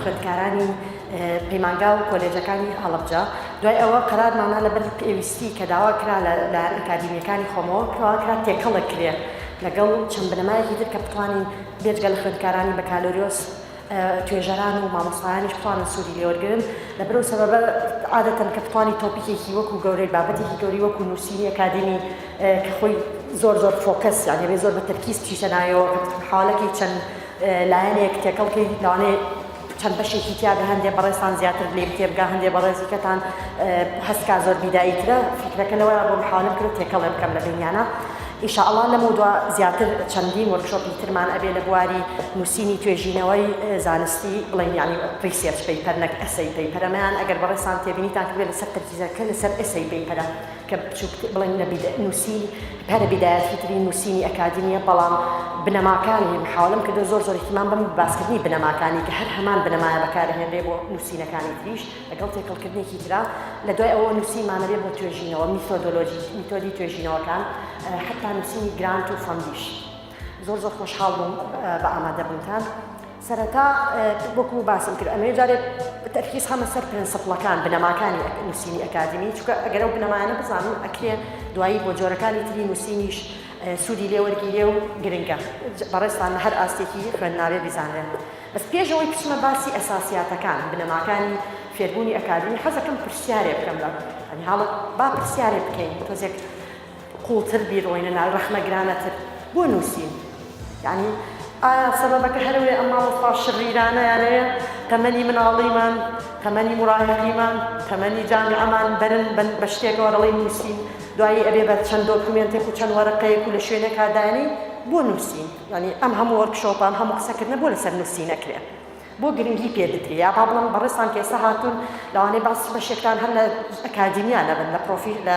خوێندکارانی پەیمانگا و کۆلێجەکانی هەڵەبجە دوای ئەوە قەرارمانە لەبەر پێویستی کە داوا کرا لە لایەن ئەکادیمیەکانی خۆمەوە کەوا کرا تێکەڵە کرێ لەگەڵ چەند بنەمایەکی تر کە بتوانین بێجگە لە خوێندکارانی بەکالۆریۆس توێژەران و مامۆستایانیش بتوانن سوودی لێوەرگن لە برەو سەبەبە عادەتەن کە بتوانانی تۆپیکێکی وەکو گەورەی بابەتێکی گەوری وەکو نووسینی ئەکادمی کە خۆی زۆر زۆر فۆکەس یانێ زۆر بە تەرکیز تیشەنایەوە حالەکەی چەند لایەنێک تێکەڵ کەی لەوانەیە چەند بەشێکی تیا بێ هەندێ بەڕێزتان زیاتر لێ بتێ بگا هەندێ بەڕێزی کەتان هەستکا زۆر بیدایی ترە فکرەکە لەوەیە بۆ محاولم کرد تێکەڵێ بکەم لە بینیانە ئیشاءڵا لەم و دو زیاتر چەندین وەرکشۆپی ترمان ئەبێ لە بواری نووسینی توێژینەوەی زانستی بڵین ینی ریسێرچ پەیپەر نەک ئەسەی پەیپەرەمەیان ئەگەر بەڕێسان تێبینیتان کردێت لەسەر تەرکیزەکە لەسەر ئەسەی پەیپەرە کە بچوک بڵێن لە بیدا نوسین پەرە بیدایەت فیتری نوسینی ئەکادیمیە بەڵام بنەماکانی محاولەم کردوە زۆر زۆر ئیهتیمام بەم بە باسکردنی بنەماکانی کە هەر هەمان بنەمایە بەکارەهێنرێ بۆ نوسینەکانی تریش لەگەڵ تێکەڵکردنێکی ترا لە دوای ئەوە نوسینمانە بێ بۆ توێژینەوە میتۆدۆلۆژی میتۆدی توێژینەوەکان حەتا نوسینی گرانت و فەندیش. زۆر زۆر خۆشحاڵ بووم بە ئامادەبوونتان سەرەتا وەکو باسم کرد ئەمێ جارێک تەرکیز خەمە سەر پرنسپڵەکان بنەماکانی نووسینی ئەکادمی چکە ئەگەرە و بنەمایانە بزانم ئەکرێ دوایی بۆ جۆرەکانی تری نووسینیش سوودی لێوەرگیرێ و گرنگە بەڕێستان لە هەر ئاستێکی خوێندناوێ بیزانرێن بەس پێشەوەی بچمە باسی ئەساسیاتەکان بنەماکانی فێربوونی ئەکادمی حەزەکەم پرسیارێ بکەم لە ئەنی هاڵت با پرسیارێ بکەین تۆزێک قوڵتر بیرۆینە ناو رەخنە گرانەتر بۆ نوسین یانی ئایا سەبەبەکە هەرەوەیە ئەم مامۆستا شریرانەیانەیە تەمەنی مناڵیمان تەمەنی مراهقیمان تەمەنی جامیعەمان بەرن بەن بە شتێکەوە دەڵێن نوسین دوایی ئەبێ بە چەند دۆکومێنتێک و چەند وەرەقەیەک و لە شوێنێکا دانی بۆ نوسین یانی ئەم هەموو وۆرکشۆپە ئەم هەموو قسەکردنە بۆ لەسەر نوسینەکرێ بۆ گرنگی پێ بدرێ یا با بڵێم بەڕێزتان کە ئێستا هاتوون لەوانەیە بەعس بەشێکتان هەر لە ئەکادیمیا نەبن لە پرۆفیل لە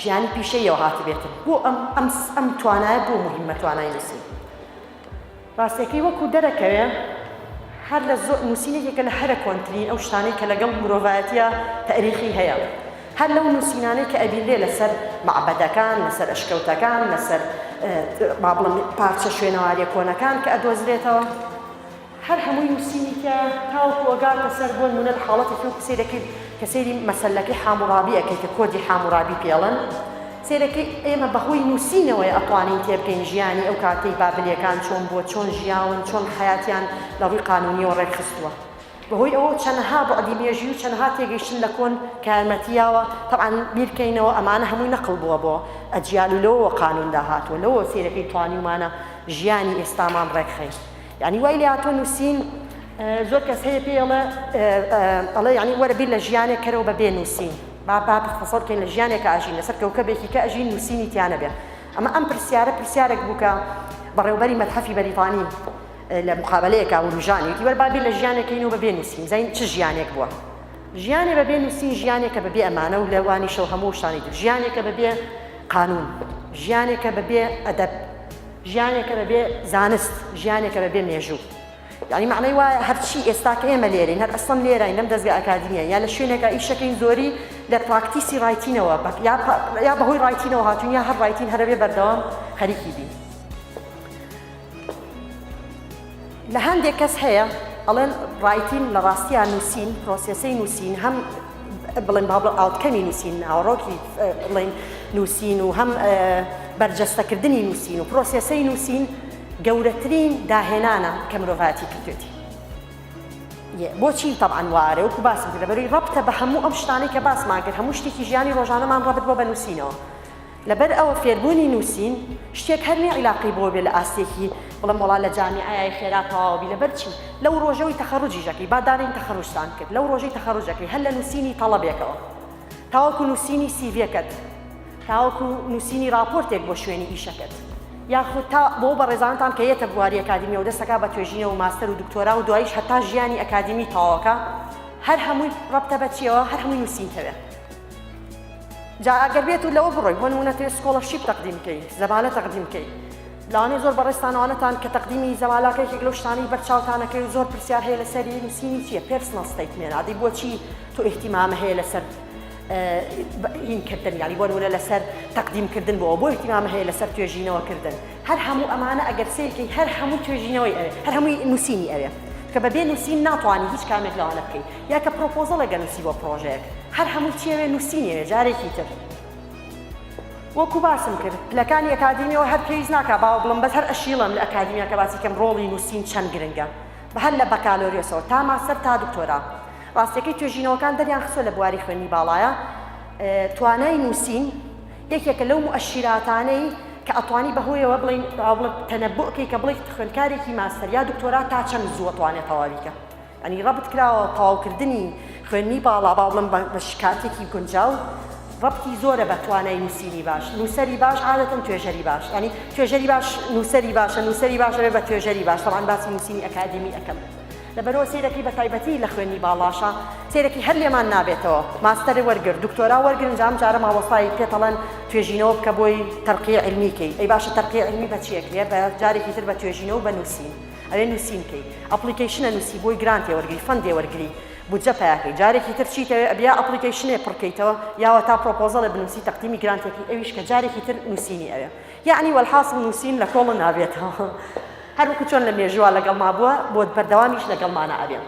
ژیانی پیشەیەوە هاتبێتن بۆ ئەم ئەم ئەم توانایە بۆ مهمە توانای نووسین ڕاستەکەی وەکو دەرەکەوێ هەر لە زۆر نووسینێکێکە لە هەرە کۆنترین ئەو شتانەی کە لەگەڵ مرۆڤایەتە تاریخی هەیە هەر لەو نووسینانەی کە ئەبیلێ لەسەر معبەدەکان لەسەر ئەشکەوتەکان لەسەر با بڵم پارچە شوێنەوارە کۆنەکان کە ئەدۆزرێتەوە هەر هەمووی نوسینی کە تاوەکو ئەگاتە سەر بۆن مونەد حاڵەتێکی وەکو سەیرەکەی کە سەیری مەسەلەکەی حاموڕابی ئەکەی کە کۆدی حاموڕابی پێڵن سەیرەکەی ئێمە بەهۆی نوسینەوەیە ئەتوانین تێبگەین ژیانی ئەو کاتەی بابلیەکان چۆن بووە چۆن ژیاون چۆن حەیاتیان لە ڕووی قانونیەوە ڕێکخستووە بەهۆی ئەوە چەنەها بوعدی مێژوی و چەنەها تێگەیشتن لە کۆن کە یارمەتی یاوە تەبعەن بیرکەینەوە ئەمانە هەمووی نەقڵ بووە بۆ ئەجیال و لەوەوە قانون داهاتووە لەوەوە سەیرەکەی توانیومانە ژیانی ئێستامان ڕێکخەین یانی وای لێهاتوە نوسین زۆر کەس هەیە پێی ئەڵێ ئەڵێ یانی وەرە بیر لە ژیانێک کەرەوە بە بێ نووسین با با تەسەڵ کەین لە ژیانێکە ئەژین لەسەر کەوکەبێکی کە ئەژین نووسینی تیانەبێ ئەمە ئەم پرسیارە پرسیارێک بووکە بەڕێوبەری مەتحەفی بەریتانی لە مقابلەیەکە وروژانی وەر با بیر لە ژیانێکەین و بە بێ نووسین زین چ ژیانێک بووە ژیانێ بە بێ نووسین ژیانێکە بە بێ ئەمانە و لەوانیشەوە هەموو شتانی تر ژیانێکە بە بێ قانون ژیانێکە بە بێ ئەدەب ژیانێکە بە بێ زانست، ژیانێکە بە بێ مێژوو. یانی مەعنای وایە هەرچی ئێستا کە ئێمە لێرەین، هەر ئەسڵەن لێرەین لەم دەزگا ئەکادیمییە، یا لە شوێنێکا ئیشەکەین زۆری لە پراکتیسی ڕایتینەوە بە یا پە یا بەهۆی ڕایتینەوە هاتووین یا هەر ڕایتین هەرەبێ بەردەوام خەریکی بین. لە هەندێک کەس هەیە ئەڵێن ڕایتین لە ڕاستیان نووسین پرۆسێسی نووسین هەم بڵێن با بڵ ئاوتکەمی نووسین ناوەڕۆکی بڵێن نووسین و هەم بەرجەستەکردنی نووسین و پرۆسێسی نووسین گەورەترین داهێنانە کە مرۆڤاتی کردێتی بۆچی تەعاان وارە وکو باس لەبەروی ڕبتە بە هەموو ئەم شتانی کە باسماگر هەموو شتێکی ژیانی ڕۆژانەمان ڕبت بۆ بە نووسینەوە لەبەر ئەوە فێربوونی نووسین شتێک هەر نیە عیلاقەی بۆ بێ لە ئاستێکی بڵێم وەڵا لە جامیعەیای خێرا تەواوە بی لەبەر چی لەو ڕۆژەوەی تەخەڕوجیشەکەی با دانێین تەخەڕوجتان کرد لەو ڕۆژەی تەخەڕوجەکەی هەر لە نووسینی تەڵەبێکەوە تاوەکو نووسینی سیڤێکەت تاوەکو نووسینی ڕاپۆرتێک بۆ شوێنی ئیشەکەت یاخود تا بۆ بەڕێزانتان کە یەتە بواری ئەکادیمیەوە دەستەکە بە توێژینەوە و ماستەر و دکتۆرا و دوایش هەتا ژیانی ئەکادیمی تەواوەکە هەر هەمووی ڕەبتە بە چیەوە هەر هەمووی نووسینکەوێ جا ئەگەر بێت و لەوە بڕۆی بۆ نمونە تێ سکۆڵەشیب تەقدیم کەی زەبالە تەقدیم کەی لاوانەی زۆر بەڕێستانەوانەتان کە تەقدیمی زەوالاکەێکی لەو شتانی بەرچاوتانەکەی و زۆر پرسیار هەیە لە سەری نووسینی چیە پرسنە ستیت مێنادی بۆچی تۆ احتیمامە هەیە لەسەر هینکردن ینی بۆ نمونە لەسەر تەقدیمکردن بۆ بۆ احتیمامە هەیە لەسەر توێژینەوەکردن هەر هەموو ئەمانە ئەگەر سیرکی هەر هەموو توێژینەوەی ئەوێ هەر هەمووی نووسینی ئەوێ کە بەبێ نووسین ناتوانانی هیچ کامێک لەوانە بکەیت یا کە پرۆپۆزەڵێک ئەنوسی بۆ پرۆژەیەک هەر هەمووی چیەوێ نوسینیەوێ جارێکی تر وەکو باسم کرد پلەکانی ئەکادیمیەوە هەر پێویست ناکا باوە بڵم بەس هەر ئەشیڵم لە ئەکادیمیا کە باسی کەم ڕۆڵی نووسین چەند گرنگە بە هەر لە بەکالۆریۆسەوە تا ماستەر تا دکتۆرا ڕاستەکەی توێژینەوەکان دەریان خسۆ لە بواری خوێنی باڵایە توانای نووسین یەکێکە لەو مؤشیراتانەی کە ئەتوانی بەهۆیەوە بڵین بڵێ تەنەبووکەی کە بڵێ خوێندکارێکی ماستەر یا دکتۆرا تا چەند زووە توانێت تەواویکە یانی ڕەبت کراوە تەواو کردنی خوێندنی باڵا بەاڵم بە شکاتێکی گونجاو ڕەبتی زۆرە بە توانای نووسینی باش نووسەری باش عادەتەن توێژەری باش ینی توێژەری باش نووسەری باشە نووسەری باش دەبێت بە توێژەری باش بەڵام باسی نووسینی ئەکادیمی ئەەکەم لەبەرەوە سیرەکەی بە تایبەتی لە خوێنی باڵاشە سێرەکی هەر لێمان نابێتەوە ماستەر وەرگر دکتۆرا وەرگرن جام جارە ماوەستای پێتەڵەن توێژینەوە بکە بۆی تەرقی علمیکەی ئەی باشە تەرقی علمی بە چیەکرێ بە جارێکی تر بە توێژینەوە بە نووسین ئەوێ نوسین کەی ئەپڵیکەیشنە نوسی بۆی گرانتێ وەرگری فەندێ وەرگری بودجە پەیاکەی جارێکی تر چیت ئەوێ ئەبیا ئەپڵیکەیشنێ پڕ کەیتەوە یاوەتا پڕۆپۆزەڵێ بنوسی تەقدیمی گرانتێکی ئەویش کە جارێکی تر نوسینی ئەوێ یەعنی وەلحاسڵ نوسین لە کۆڵە نابێتەوە هەر وەکو چۆن لە مێژووا لەگەڵ ما بووە بۆت بەردەوامیش لەگەڵمانە ئەبێ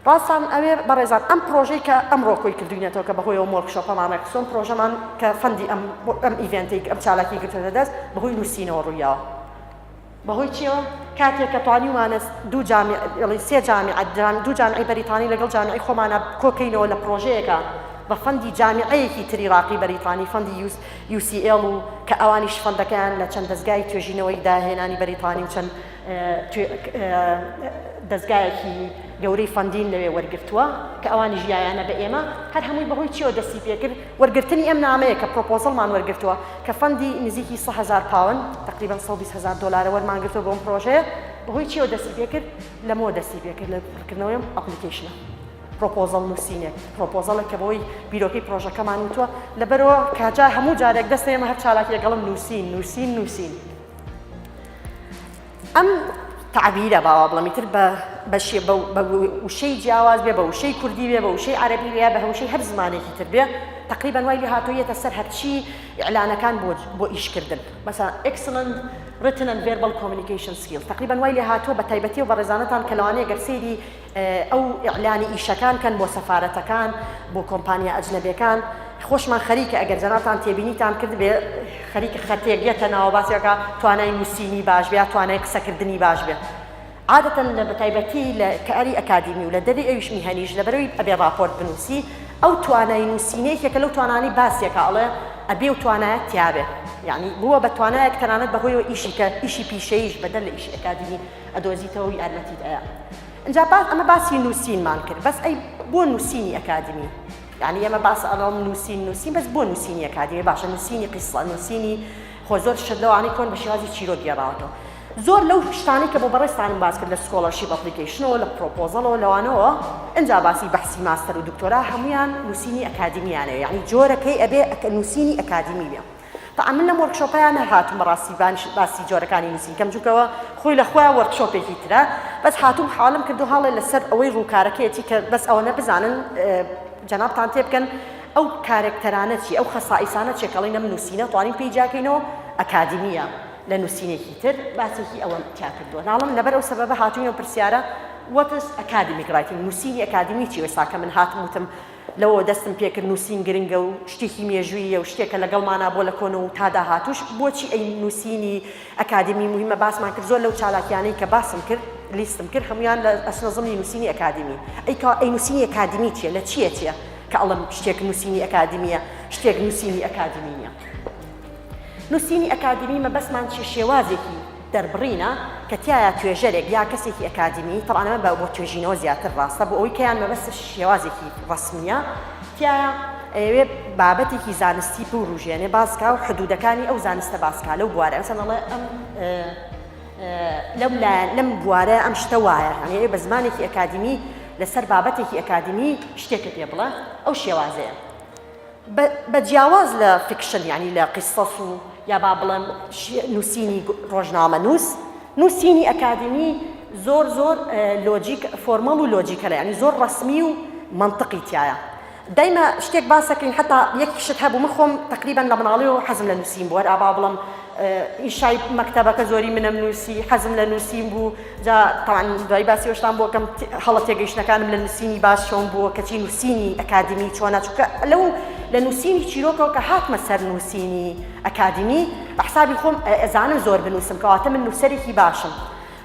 ڕاستان ئەوێ بەڕێزان ئەم پرۆژەی کە ئەمڕۆ کۆی کردوینەتەوە کە بەهۆیەوە مۆرکشۆپەمان ڕێکخسۆن پرۆژەمان کە فەندی ئەم ئەم ئیڤێنتێک ئەم چالاکی گرتوێتە دەست بەهۆی نووسینەوە ڕوویاوە بەهۆی چیەوە؟ کاتێک کە توانیومانە دوو جامی، ئێڵی سێ جامیعە، دوو جامیعەی بەریتانی لەگەڵ جامیعەی خۆمانا کۆ کەینەوە لە پڕۆژەیەکا بە فەندی جامیعەیەکی تری ڕاقی بەریتانی، فەندی یوس، UCL، و کە ئەوانیش فەندەکەیان لە چەند دەزگای توێژینەوەی داهێنانی بەریتانی و چەند دەزگایەکی گەورەی فەندین لەوێ وەرگرتووە کە ئەوانیش یایانە بە ئێمە، هەر هەمووی بەهۆی چیەوە دەستی پێکرد؟ وەرگرتنی ئەم نامەیە کە پرۆپۆزڵمان وەرگرتووە کە فەندی نزیکی سە هەزار پاوەند، تەقریبەن سەد و بیست هەزار دۆلارە وەرمان گرتووە بۆ ئەم پرۆژەیە، بەهۆی چییەوە دەستی پێ کرد؟ لەمەوە دەستی پێ کرد لە پڕکردنەوەی ئەم ئەپڵیکەیشنە. پرۆپۆزڵ نووسینێک، پرۆپۆزڵێک کە بەوەی بیرۆکەی پرۆژەکەمان وتووە، لەبەرئەوە کاجا هەموو جارێک دەستە ئێمە هەر چالاکییە گەڵم نووسین، نووسین، نووسین. ئەم تەعبیرە با وا بڵێم ئیتر بە بە شێ بە بە وشەی جیاواز بێ بە وشەی کوردی بێ بە وشەی عەرەبی بێ یا بە وشەی هەر زمانێکی تر بێ تقریبا وای لێ هاتوویەتە سەر هەرچی ئیعلانەکان بۆ بۆ ئیشکردن مەسەلەن ئێکسلەند written and verbal communication skills تقریبا وای لێ هاتووە بە تایبەتی و بەڕێزانەتان کە لەوانەیە گەر سەیری ئەو ئیعلانی ئیشەکان کەن بۆ سەفارەتەکان بۆ کۆمپانیا ئەجنەبێکان خۆشمان خەریکە ئەگەر جەنابتان تێبینیتان کردبێ خەریکە خەتێک یەتە ناوە باسی ئەکا توانای نووسینی باش بێ توانای قسەکردنی باش بێ عادەتەن لە بەتایبەتی لە کاری ئەکادیمی و لە دەبی ئەویش میهەنیش لەبەرەوەی ئەبێ ڕاپۆرت بنووسی ئەو توانای نووسینەیەکێکە لەو توانانی باسیەکە ئەڵێ ئەبێ و توانایەت تیاابێ یعنی بووە بە توانایەک تەنانەت بەهۆیەوە ئیشی کە ئیشی پیشەیش بەدەر لە ئیشی ئەکادیمی ئەدۆزیتەوەو یارمەتیت ئەیا ئنجا باس ئەمە باسی نووسینمان کرد بەس ئەی بۆ نووسینی ئەکادمی یعنی ئەمە باس ئەڵم نووسین نووسین بەس بۆ نووسینی ئەکادمی باشە نووسینی قیسڵە نووسینی خۆ زۆر شت لەوانی کۆن بە شێوازی چیرۆ گێڕاوەتەوە زۆر لەو شتانی کە بۆ بەڕێستانم باس کرد لە سکۆڵەرشیپ ئەپلیکیشنەوە لە پرۆپۆزەڵەوە لەوانەوە ئەجا باسی بەحسی ماستەر و دکتۆرا هەمویان نووسینی ئەکادمیانەیە یعنی جۆرەکەی ئەبێ نووسینی ئەکادمی بێ تاعە من لەم وۆرکشۆپەیا نەهاتوم بەڕاستی باسی جۆرەکانی نوسین کەم جونکەوە خۆی لەخۆیا وۆرکشۆپێکی ترە بەس هاتوم حەوالم کردو هەاڵێ لەسەر ئەوەی ڕوکارەکەیەتی کە بەس ئەوەنە بزانن جەنابتان تێبکەن ئەو کارەکتەرانە چی ئەو خەسائیسانە چێ کەڵین ئەم نوسینە توانین پێی جیاکەینەوە ئەکادیمیە لە نوسینێکی تر باسێکی ئەوە تیا کردووە ناڵم لەبەر ئەو سەبەبە هاتوینە پرسیارە وەتس ئەکادیمیک ڕایتینگ نوسینی ئەکادیمی چی وەساکە من هاتم وتم لەوەوە دەستم پێکرد نووسین گرنگە و شتێکی مێژووییە و شتێکە لەگەڵمانە بۆ لە کۆنەوە و تا داهاتووش. بۆچی ئەی نووسینی ئەکادیمی موهیمە باسمان کرد، زۆر لەو چالاکییانەی کە باسم کرد، لیستم کرد، هەموویان لە ئەچنە زمنی نووسینی ئەکادیمی. ئەی کوا ئەی نووسینی ئەکادیمی چییە؟ لە چییە چییە کە ئەڵێم شتێک نووسینی ئەکادیمییە، شتێک نووسینی ئەکادیمی نییە؟ نووسینی ئەکادیمی مەبەستمان چییە؟ شێوازێکی دەربڕینە کە تیایا توێژەرێک یا کەسێکی ئەکادیمی، تەبعەن ئەمە بە بۆ توێژینەوە زیاتر ڕاستە، بۆ ئەوەی کەیان مەبەستە شێوازێکی ڕەسمییە، تیایا ئەیەوێ بابەتێکی زانستی بورووژێنێ باس کا و حدوودەکانی ئەو زانستە باس کا لەو بوارە مثلا ئەڵێ ئەم لەم لایەن لەم بوارە ئەم شتە وایە هەنێ بە زمانێکی ئەکادیمی لەسەر بابەتێکی ئەکادیمی شتێکت پێ بڵێ ئەو شێوازەیە. بە جیاواز لە فیکشن یانی لە قیسەس و یا با بڵێم نووسینی ڕۆژنامەنووس نووسینی ئەکادیمی زۆر زۆر لۆجیک فۆرمەڵ و لۆجیکە لە ینی زۆر ڕسمی و منطقی تایە دایمە شتێک باسەکەین حتا یەک شت هەبوو من خۆم تقریبان لە مناڵی و حەزم لە نووسین بووەر ئابا بڵم ئیشای مەکتتەبەکە زۆری منم نووسی حەزم لە نووسین بوو جا تەبعەن دوای باسی ئەوشتان بۆ کەم هەڵە تێگەیشتنەکانم لە نووسینی باس چۆن بووە کەچی نووسینی ئەکادیمی چۆنە چونکە لەو لە نووسینی چیرۆکەوە کە هاتمە سەر نووسینی ئەکادیمی بە حسابی خۆم ئەزانم زۆر بنووسم کەواتە من نووسەرێکی باشم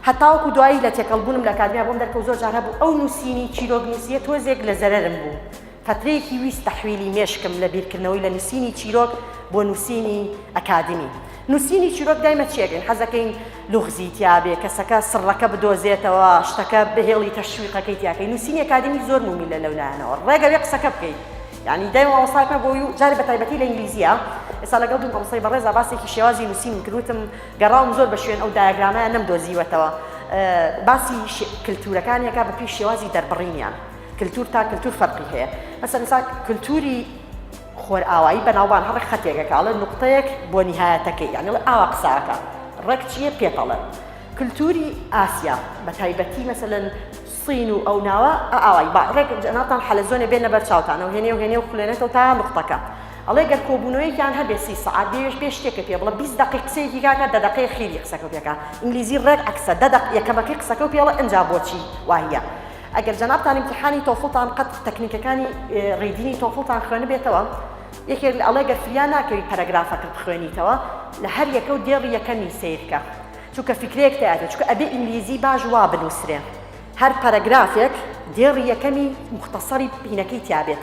هەتاوەکو دوایی لە تێکەڵبوونم لە ئەکادیمیا بۆم دەرکەوت زۆر جار هەبوو ئەو نووسینی چیرۆک نووسیە تۆزێک لە زەرەرم بوو فترەیەکی ویست تەحویلی مێشکم لە بیرکردنەوەی لە نوسینی چیرۆک بۆ نوسینی ئەکادمی نوسینی چیرۆک دایمە چیەکەین حەزەکەین لوغزی تیابێ کەسەکە سڕەکە بدۆزێتەوە شتەکە بهێڵی تەشویقەکەی تیاکەی نوسینی ئەکادمی زۆر مومیلە لەو لایەنەوە ڕێگە بێ قسەکە بکەی یانی دایمە مامۆستاکە بۆ و جارێ بە تایبەتی لە ئینگلیزیە ئێستا لەگەڵ دوو مامۆستای بەڕێزا باسێکی شێوازی نوسینم کرد وتم گەڕاوم زۆر بە شوێن ئەو دایەگرامەیان نەمدۆزیوەتەوە باسی کلتورەکانیەکە بە پێی شێوازی دەربڕینیان کلتور تا کلتور فەرقی هەیە مەسەن ئێستا کلتوری خۆرئاوایی بەناوبان هەڕێک خەتێکە کە ئەڵێ نقطەیەک بۆ نیهایەتەکەی یانی ئەڵێ ئاوا قساکە ڕێک چییە پێپەڵە کلتوری ئاسیا بە تایبەتی مەسەن سین و ئەو ناوە ئاوای با ڕێک جەناتان حەلەزۆنێ بێنە بەر چاوتانەوە هێنێ و هێنێ و خولێنێتەوە تا نقطەکە ئەڵێ گەر کۆبوونەوەیان هەبێ سی سعات بێش بێ شتێکە پێ بڵە 20 دقی قسەی دیگاکە دە دقی خیری قسەکە پێکە ئینگلیزی ڕێک عکسە دە دق یەکەمەکەی قسەکە و پێڵە ئەجا بۆچی وایە ئەگەر جەنابتان ئیمتیحانی تۆفڵتان قەت تەکنیکەکانی ڕیدینی تۆفڵتان خوێنبێتەوە یەکێک لە ئەڵێ گەر فریا ناکەوی پەرەگرافەکە بخوێنیتەوە لە هەر یەکە و دێڕی یەکەمی سیرکە چونکە فکرەیەک تیاێت چکە ئەبێ ئینگلیزی باش وا بنووسرێ هەر پەرەگرافێک دێڕی یەکەمی مختصری پینەکەی تیاابێت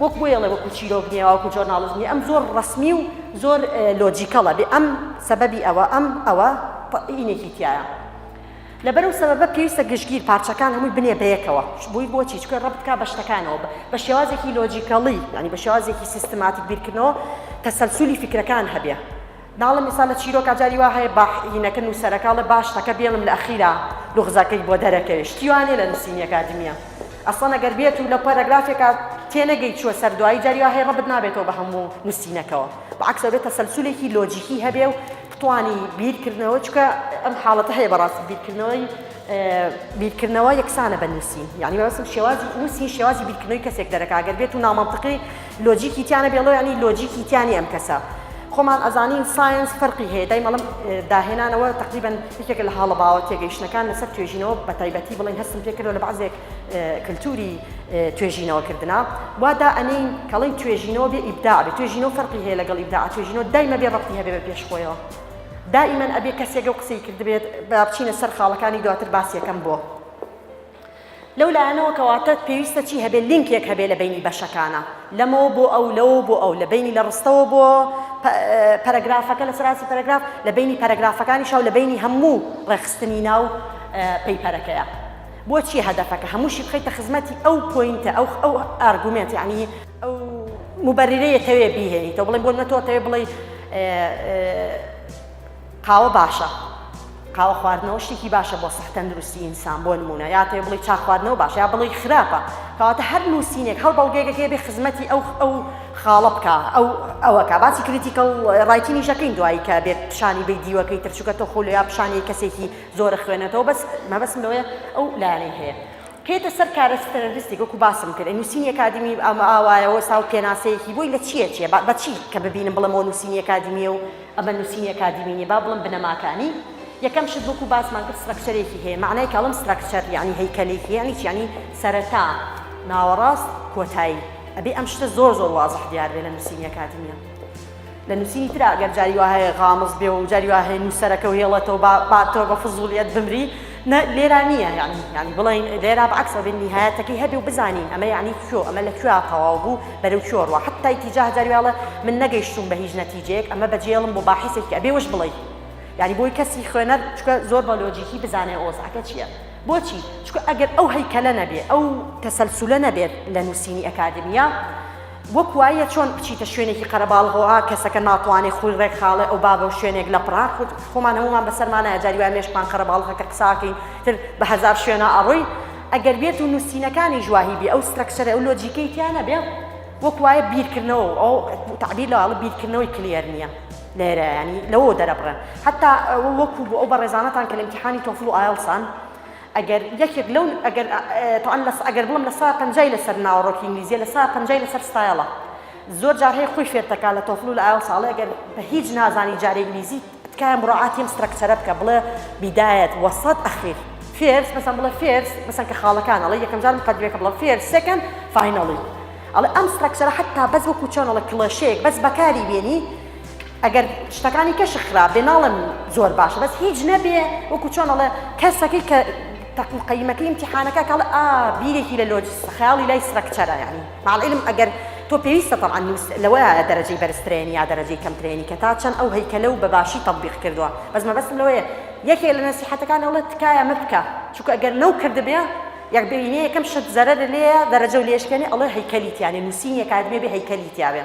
وەک بۆیە ئەڵێ وەکو چیرۆک نیە وەکو جۆرناڵیزم نیە ئەم زۆر ڕەسمی و زۆر لۆجیکەڵە بێ ئەم سەبەبی ئەوە ئەم ئەوە ئینێکی تایە لەبەرو سەبەبە پێویستە گشتگیر پارچەکان هەمووی بنێ بەیەکەوە بووی بۆچی چکە ڕبتکا بە شتەکانەوە بە شێوازێکی لۆجیکەڵی ینی بە شێوازێکی سیستماتیک بیرکردنەوە تەسەلسولی فکرەکان هەبێ ناڵێم ئیستا لە چیرۆکا جاری وا هەیە باح ینەکە نوسەرەکە ئەڵێ باش تەکە بێڵم لە ئەخیرا لوغزەکەی بۆ دەرەکەوێ شتی وا نیە لە نوسینی ئەکادیمیە ئەسڵەن ئەگەر بێتو لە پەرەگرافێکا تێنەگەی چوە سەر دوایی جاری وا هەیە ڕەبت نابێتەوە بە هەمو نوسینەکەوە بە عەکس ئەبێ تەسەلسولێکی لۆجیکی هەبێ و بتوانی بیر کردنەوە چونکە ئەم حاڵەتە هەیە بەڕاستی بیر کردنەوەی بیر کردنەوە یەکسانە بە نوسین یانی مەبەستم شێوازی نوسین شێوازی بیر کردنەوەی کەسێک دەرەکا ئەگەر بێتو نامەنتقی لۆجیکی تیا نەبێ ڵۆ یانی لۆجیکی تیا نیە ئەم کەسە خۆمان ئەزانین ساینس فەرقی هەیە دایمەڵم داهێنانەوە تقریبن یەکێک لە هاڵە باوە تێگەیشتنەکان لەسەر توێژینەوە بە تایبەتی بڵێن هەستم پێکردەوە لە بەعزێک کللتوری توێژینەوە کردنا وادا ئەنین کەڵین توێژینەوە بێ ئیبدا بێ توێژینەوە فەرقی هەیە لەگەڵ ئیبدا توێژینەوە دایمە بێ ڕەتی هەبێ بە پێش خۆیەوە دائیمەن ئەبێ کەسێکە و قسەی کردبێت بچینە سەر خاڵەکانی دواتر باسیەکەم بۆ لەو لایەنەوە کە واتە پێویستە چی هەبێ لینکێک هەبێ لە بەینی بەشەکانە لەمەوە بۆ ئەو لەوە بۆ ئەو لە بەینی لە ڕستەوە بۆ پەرەگرافەکە لە سەراسی پەرەگراف لە بەینی پەرەگرافەکانی شاو لە بەینی هەموو ڕێخستنی ناو پەیپەرەکەیە بۆچی هەدەفەکە هەمووشی بخیتە خزمەتی ئەو پوینتە ئەو ئەو ئارگومنت یعنی ئەو مبررەیە تەوێ بیهێنیتەوە بڵێ بۆ نەتۆ تەوێ بڵێ قاوە باشە قاوە خواردنەوە شتێکی باشە بۆ سەح تەندروستی ئینسان بۆ نمونە یا تێ بڵی چاخواردنەوە باش یا بڵی خراپە کەواتە هەر نووسینێک هەڵ بەڵگەیەکە بێ خزمەتی ئەو ئەو خاڵە بکە ئەو ئەوەکە باسی کریتیکەڵ ڕایتینی شەکەین دوایی کە بێت پیشانی بی دیوەکەی ترچووکە تۆ خۆل یا پیشانی کەسێکی زۆرە خوێنێتەوە بەس مەبەسم لەوەیە ئەو لایەنەی هەیە کەێتە سەر کارەسپەرستی گوکو باسم کرد نووسینی کادمی ئەمە ئاوایەوە ساو پێناسەیەکی بۆی لە چیە چیە بە چی کە ببینم بڵم و نووسینی کادمیە و ئەمە نوسینی ئەکادیمی نیە با بڵێم بنەماکانی یەکەم شت وەکو باسمان کرد سترەکچەرێکی هەیە مەعنای کە ئەڵێم سترەکچەر یەعنی هەیکەلێکی یەعنی چی یەعنی سەرەتا ناوەڕاست کۆتایی ئەبێ ئەم شتە زۆر زۆر وازح دیار بێ لە نوسینی ئەکادیمیە لە نوسینی ترا گەر جاری وا هەیە غامز بێ و جاری وا هەیە نوسەرەکە و هێڵێتەوە با با تۆ بە فزولیت بمری نە لێرا نییە یانی یانی بڵێین لێرا بە عەکسەوە بێن نیهایەتەکەی هەبێ و بزانین ئەمە یانی کوێ ئەمە لە کوێ تەواو بوو بەرەو کوێ ڕوا حەتای تیجاه جاری وێڵە من نەگەیشتوم بە هیچ نەتیجەیەک ئەمە بەجێڵم بۆ باحیسێکی ئەبێ وش بڵێی یعنی بۆی کەسی خوێنەر چکە زۆر بە لۆجیکی بزانێ ئۆزعەکە چییە بۆچی چکە ئەگەر ئەو هەیکەلە نەبێ ئەو تەسەلسولە نەبێت لە نووسینی ئەکادیمیا وەک وایە چۆن بچیتە شوێنێکی قەرەباڵغۆئا کەسەکە ناتوانێ خۆی ڕێک خاڵێ ئەو بابە و شوێنێک لە پڕان خود خۆمان هەموومان بەسەرمانایە جاری وایە مێشکمان قەرەباڵغە کە قساکەین تر بە هەزار شوێنا ئەڕۆی ئەگەر بێت و نووسینەکانیش واهی بێ ئەو سترەکچەرە ئەو لۆجیکەی تیا نەبێ وەک وایە بیرکردنەوە و ئەو تەعبیر لە واڵە بیرکردنەوەی کلیەر نییە لێرە ینی لەوە دەرەبڕێن حتا وەکو بۆ ئەو بەڕێزانەتان کە لە ئیمتیحانی تۆفڵ و ئایڵسان ئەگەر یەکێک لەو ئەگەر تەوان لەس ئەگەر بڵم لە سەدا پەنجای لەسەر ناوەڕۆکی ئینگلیزیە لە سەدا پەنجای لەسەر ستایڵە زۆر جار هەیە خۆی فێر تەکا لە تۆفل و لە ئایڵس ئەڵێ ئەگەر بە هیچ نازانی جارێ ئینگلیزی تکایە مڕاعاتی ئەم سترەکچەرە بکە بڵێ بیدایەت وەسەت ئەخیر فێرس مەسەن بڵێ فێرس مەسەن کە خاڵەکان ئەڵێ یەکەم جار مقەدمەکە بڵە فێرس سێکەند فاینەڵی ئەڵێ ئەم سترەکچەرە حەتتا بەس وەکو چۆن ئەڵێ کڵێشەیەک بەس بەکاری بێنی ئەگەر شتەکانی کەشک خراپ بێ ناڵێم زۆر باشە بەس هیچ نەبێ وەکو چۆن ئەڵێ کەسەکەی کە تەقو قەیمەکە ئیمتیحانەکە کەڵ ئا بیرێکی لە لۆجس خەیاڵی لای سرەکچەرە یعنی مع العلم ئەگەر تۆ پێویستە طبعا نووس لەوەیە دەرەجەی بەرزترێنی یا دەرەجەی کەمترێنی کە تا چەند ئەو هەیکەلە و بە باشی تطبیق کردووە بەس مەبەستم لەوەیە یەکێ لە نەسیحەتەکان ئەڵێ تکایە مە بکە چونکە ئەگەر نەو کردبێ یەک بینێ یەکەم شت زەرەر لێیە دەرەجە و لێشکێنێ ئەڵێ هەیکەلی تیانێ نووسینی ئەکادمیە بێ هەیکەلی تیاوێ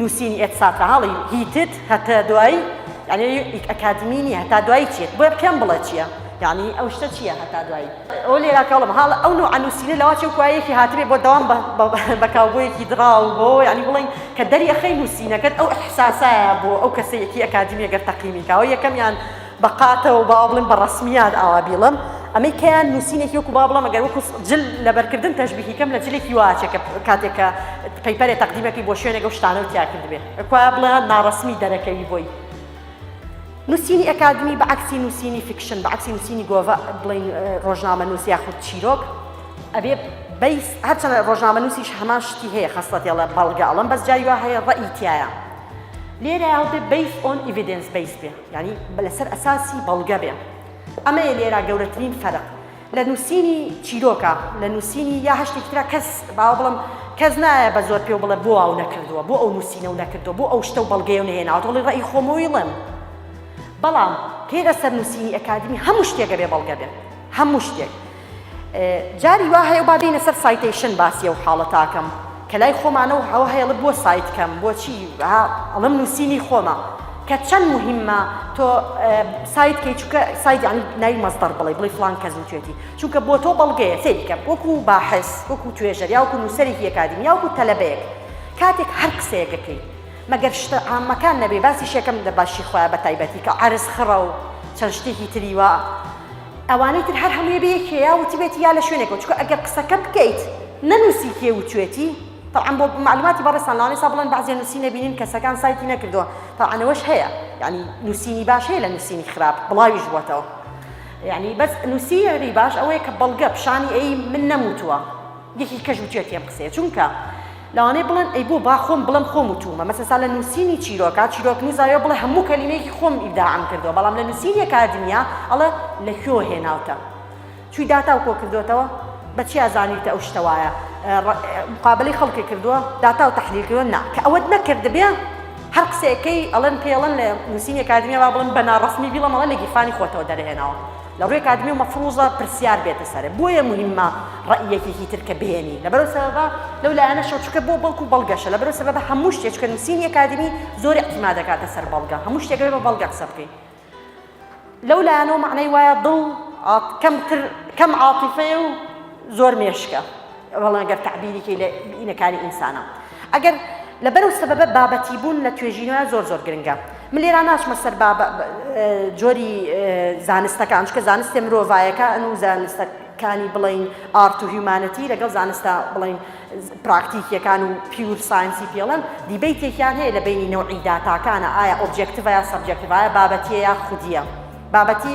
نوسینی ئێت ساترە هەڵەی هیتت هەتە دوایی یانی ئیک ئەکادمی نیە هەتا دوایی چیە بۆیە پێم بڵێ چیە یانی ئەو شتە چیە هەتا دوایی ئەو لێرا کەڵم هاڵ ئەو نوع نوسینە لەوا چێ کوایەکی هاتبێ بۆ دەوام بە کاوبۆیەکی دراو بۆ یانی بڵین کە دەری ئەخەی نوسینەکەت ئەو ئەحساسایە بۆ ئەو کەسەیەکی ئەکادمیە گەر تەقیمی کاوە یەکەمیان بە قاتەوە با بڵێم بە ڕەسمیات ئاوا بیڵم ئەمەی کەیان نووسینێکی وەکو با بڵم ئەگەر وەکو جل لەبەرکردن تەشبیهی کەم لە جلێکی واچێ کە کاتێک کە پەیپەرێ تەقدیمەکەی بۆ شوێنێک و شتانە و تیا کردبێ ئەکوا بڵێ ناڕەسمی دەرەکەوی بۆی نووسینی ئەکادمی بە عکسی نووسینی فیکشن بە عکسی نووسینی گۆڤە بڵین ڕۆژنامە نووس یاخود چیرۆک ئەبێ بەیس هەرچەند ڕۆژنامە نووسیش هەمان شتی هەیە خستەتێڵە بەڵگەڵم بەس جای وا هەیە ڕەئی تایە لێرە هەڵبێ بیس ئۆن ئیڤیدنس بیس بێ یانی لەسەر ئەساسی بەڵگە بێ. ئەمەیە لێرا گەورەترین فەرق لە نووسینی چیرۆکە لە نووسینی یا هەر شتێکی ترا کەس باوە بڵم کەس نایە بە زۆر پێ و بڵێ بۆ ئاو نەکردووە بۆ ئەو نووسینە و نەکردووە بۆ ئەو شتە و بەڵگەی و نەهێناوە دڵی ڕێی خۆمەوەیڵم بەڵام پێ لەسەر نووسینی ئەکادمی هەموو شتێکە بێ بەڵگە بێ هەموو شتێک جاری وا هەیە با بێینە سەر سایتەیشن باسی ئەو حاڵەتە ئەکەم کە لای خۆمانە و هەوە هەیەڵە بۆ سایت کەم بۆچی ئەڵم نووسینی خۆمە کە چەند مهمە تۆ سایت کەی چکە سایت یعنی ناوی مەزدەر بڵێ بڵی فلان کەس و توێتی چونکە بۆ تۆ بەڵگەیە سێکە وەکو باحس وەکو توێژەر یاوکو نووسەرێکی ئەکادمی یاوکو تەلەبەیەک کاتێک هەر قسەیەکەکەی مەگەر شتە ئامەکان نەبێ باسی شەکەم دە باشی خۆیان بە تایبەتی کە عرز خڕە و چەند شتێکی تری وە ئەوانەی تر هەر هەمووی بە یەکێ یا وتبێتی یا لە شوێنێکەوە چونکە ئەگەر قسەکە بکەیت نەنووسی کێ وتوێتی طبعا بۆ معلوماتی بەڕێزتان لەوانەیە سا بڵێن بەعزێ نووسی نەبینین کەسەکان سایتی نەکردووە طبعا ئەوەش هەیە یعنی نووسینی باش هەیە لە نووسینی خراپ بڵاویش بووەتەوە یعنی بەس نووسیری باش ئەوەیە کە بەڵگە پیشانی ئەی من نەموتووە یەکی کەش وتوێتی ئەم قسەیە چونکە لەوانەیە بڵێن ئەی بۆ با خۆم بڵێم خۆم وتوومە مەسە سا لە نووسینی چیرۆکە چیرۆکنووس ئایۆ بڵێ هەموو کەلیمەیەکی خۆم ئیبداعم کردووە بەڵام لە نووسینی ئەکادیمیا ئەڵێ لە کوێوە هێناوتە چووی داتا و کۆ کردووەتەوە بە چیا زانیوتە ئەو شتە وایە مقابلەی خەڵکێک کردووە داتا و تەحلیل کردووە نا کە ئەوەت نەکردبێ هەر قسەیەکەی ئەڵێن پێڵەن لە نووسینی ئەکادیمیا با بڵێن بە ناڕەسمی بیڵەم ئەڵێ لە گیرفانی خۆتەوە دەرهێناوە لە ڕوی ئەکادمیەوە مەفروزە پرسیار بێتە سەر بۆیە موهیمە ڕەئی یەکێکی تر کە بێنی لەبەرو سەبەبە لەو لایەنەشەوە چونکە بۆ بەڵکو بەڵگەشە لەبەرو سەبەبە هەموو شتێ چونکە نوسینی ئەکادمی زۆر اعتیماد دەکاتە سەر بەڵگە هەموو شتێک بێ بە بەڵگە قسە بکەی لەو لایەنەوە مەعنای وایە دڵ کەم تر کەم عاتیفەیە و زۆر مێشکە وەڵا ئەگەر تەعبیری کەی لە بینەکانی ئینسانە ئەگەر لەبەر و سەبەبە بابەتی بوون لە توێژینەوە زۆر زۆر گرنگە من لێرا ناچمە سەر جۆری زانستەکان چکە زانستێ مرۆڤایەکە ئەن و زانستە کانی بڵین ئارت و هیومانەتی لەگەڵ زانستە بڵین پراکتیکیەکان و پیور ساینسی پێڵەن دیبیتێکیان هەیە لە بینی نەوەی داتاکانە ئایا ئۆبجێکتڤە یا سەبجێکتڤایە بابەتیە یا خودیە بابەتی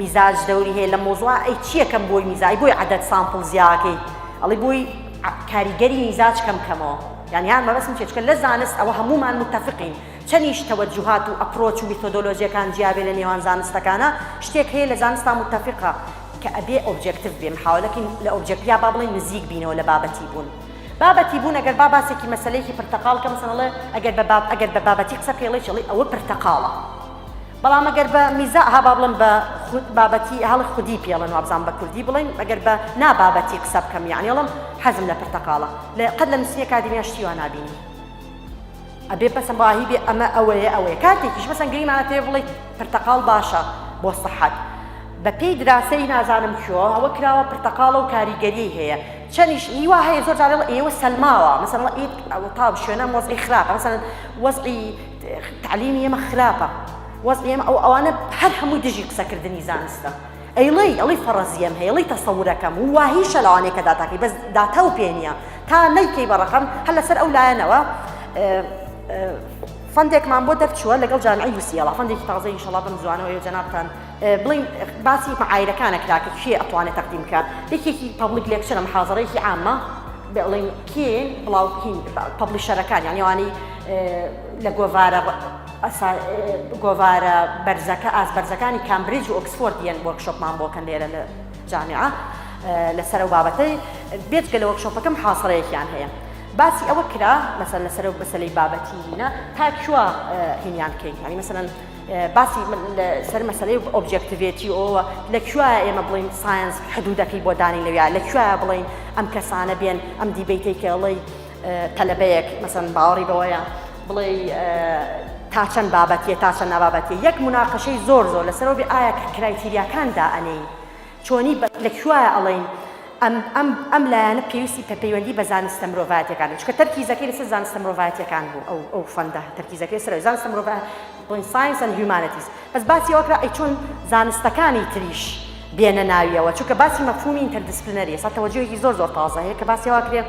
میزاج دەوری هەیە لە مۆزوعا ئەی چیە کەم بۆی میزا ئەی بۆی عەدەد سامپڵ زیاکەی ئەڵی بۆی عە کاریگەری میزاج کەم کەمەوە یان یان مەبەسم چیە چکە لە زانست ئەوە هەموومان متەفقین چەنیش تەوەجوهات و ئەپرۆچ و میتۆدۆلۆجیەکان جیابێ لە نێوان زانستەکانا شتێک هەیە لە زانستا متەفقە کە ئەبێ ئۆبجێکتڤ بێ محاولەکەین لە ئۆبجێکت یا با بڵێین نزیک بینەوە لە بابەتی بوون بابەتی بوون ئەگەر با باسێکی مەسەلەیەکی پرتەقاڵ کە مەسەن ئەڵێ ئەگەر بە باب ئەگەر بە بابەتی قسە بکەی ئەڵێ چی ئەڵێ ئەوە پرتەقاڵە. بەڵام ئەگەر بە میزا ها با بڵێم بە خود بابەتی هەڵ خودی پێڵن وابزان بە کوردی بڵێن ئەگەر بە نابابەتی قسە بکەم یعنی ئەڵم حەزم لە پرتەقاڵە لە قەت لە نووسینە کادیمیا شتی وا نابینی ئەبێ پەسەم باهی بێ ئەمە ئەوەیە ئەوەیە کاتێکیش بەسەن گریمانە پێ بڵێ پرتەقاڵ باشە بۆ سەحەت بە پێی دراسەی نازانم کۆ ئەوە کراوە پرتەقاڵە و کاریگەری هەیە چەنیش هیوا هەیە زۆر جارێڵ ئێوە سەلماوە مەسەڵ ئیت ئەو تاو شوێنە مۆزی خراپ مەسەن وەزعی تعلیمی ئێمە خراپە وەزعی ئێمە ئەو ئەوانە هەر هەمووی دژی قسەکردنی زانستە ئەیڵێی ئەڵی فەڕەزیەم هەیە ڵی تەسەورەکەم و واهیشە لەوانەیە کە داتاکەی بەس داتا و پێنیە تا نەیکەی بە ڕقم هەر لەسەر ئەو لایەنەوە فەندێکمان بۆ دەرچووە لەگەڵ جامعی یوسیەڵا فەندێکی تازە ئینشەڵا بم زوانەوەی جەنابتان بڵین باسی معایرەکانە کراکە کێ ئەتوانێت تەقدیم بکە یەکێکی پبلیک لێکچرە محازڕێکی عامە بڵین کێ بڵاوکین پبلیشەرەکان یانیوانی لە گۆڤارە گۆڤارە بەرزەکە ئاست بەرزەکانی کامبریج و ئۆکسفۆرد یەن وەرکشۆپمان بۆکەن لێرە لە جامیعە لەسەر و بابەتەی بێتگە لە وەکشۆپەکەم حاصڕەیەکیان هەیە باسی ئەوە کرا مەسەر لەسەر و بەسەلی بابەتی هینە تا کووە هینیان بکەین هەنی مەسەن باسی سەر مەسلەی ئۆبجێکتیڤێتی ئەوە لە کوێ ئێمە بڵین ساینس حدودەکەی بۆ دانی لەویا لە کوێ بڵین ئەم کەسانە بێن ئەم دیبیتەی کەڵی تەلەبەیەک مەسەن باوەڕی بەوەیە بڵێ تا چەند بابەتیە تا چەند نابابەتی یەک مناقەشەی زۆر زۆر لەسەرەوە بێ ئایا کرایتیریاکان دائەنێی چۆنی لە کوایە ئەڵین ئەم ئەم ئەم لایەنە پێویستی پە پەیوەندی بە زانستە مرۆڤاتەکان چکە تەرکیزەکەی لەسەر زانستە مرۆڤاتیەکان بوو ئەو ئەو فەندە تەرکیزەکەی سەر زانستە مرۆڤ بڵین ساینس ئەند هیومانەتیز بەس باسی ئەوکرا ئەی چۆن زانستەکانی تریش بێنە ناویەوە چونکە باسی مەفهومی ئینتەردیسپلینەری ئێستا تەوەجوهێکی زۆر زۆر تازە هەیە کە باسی واکرێت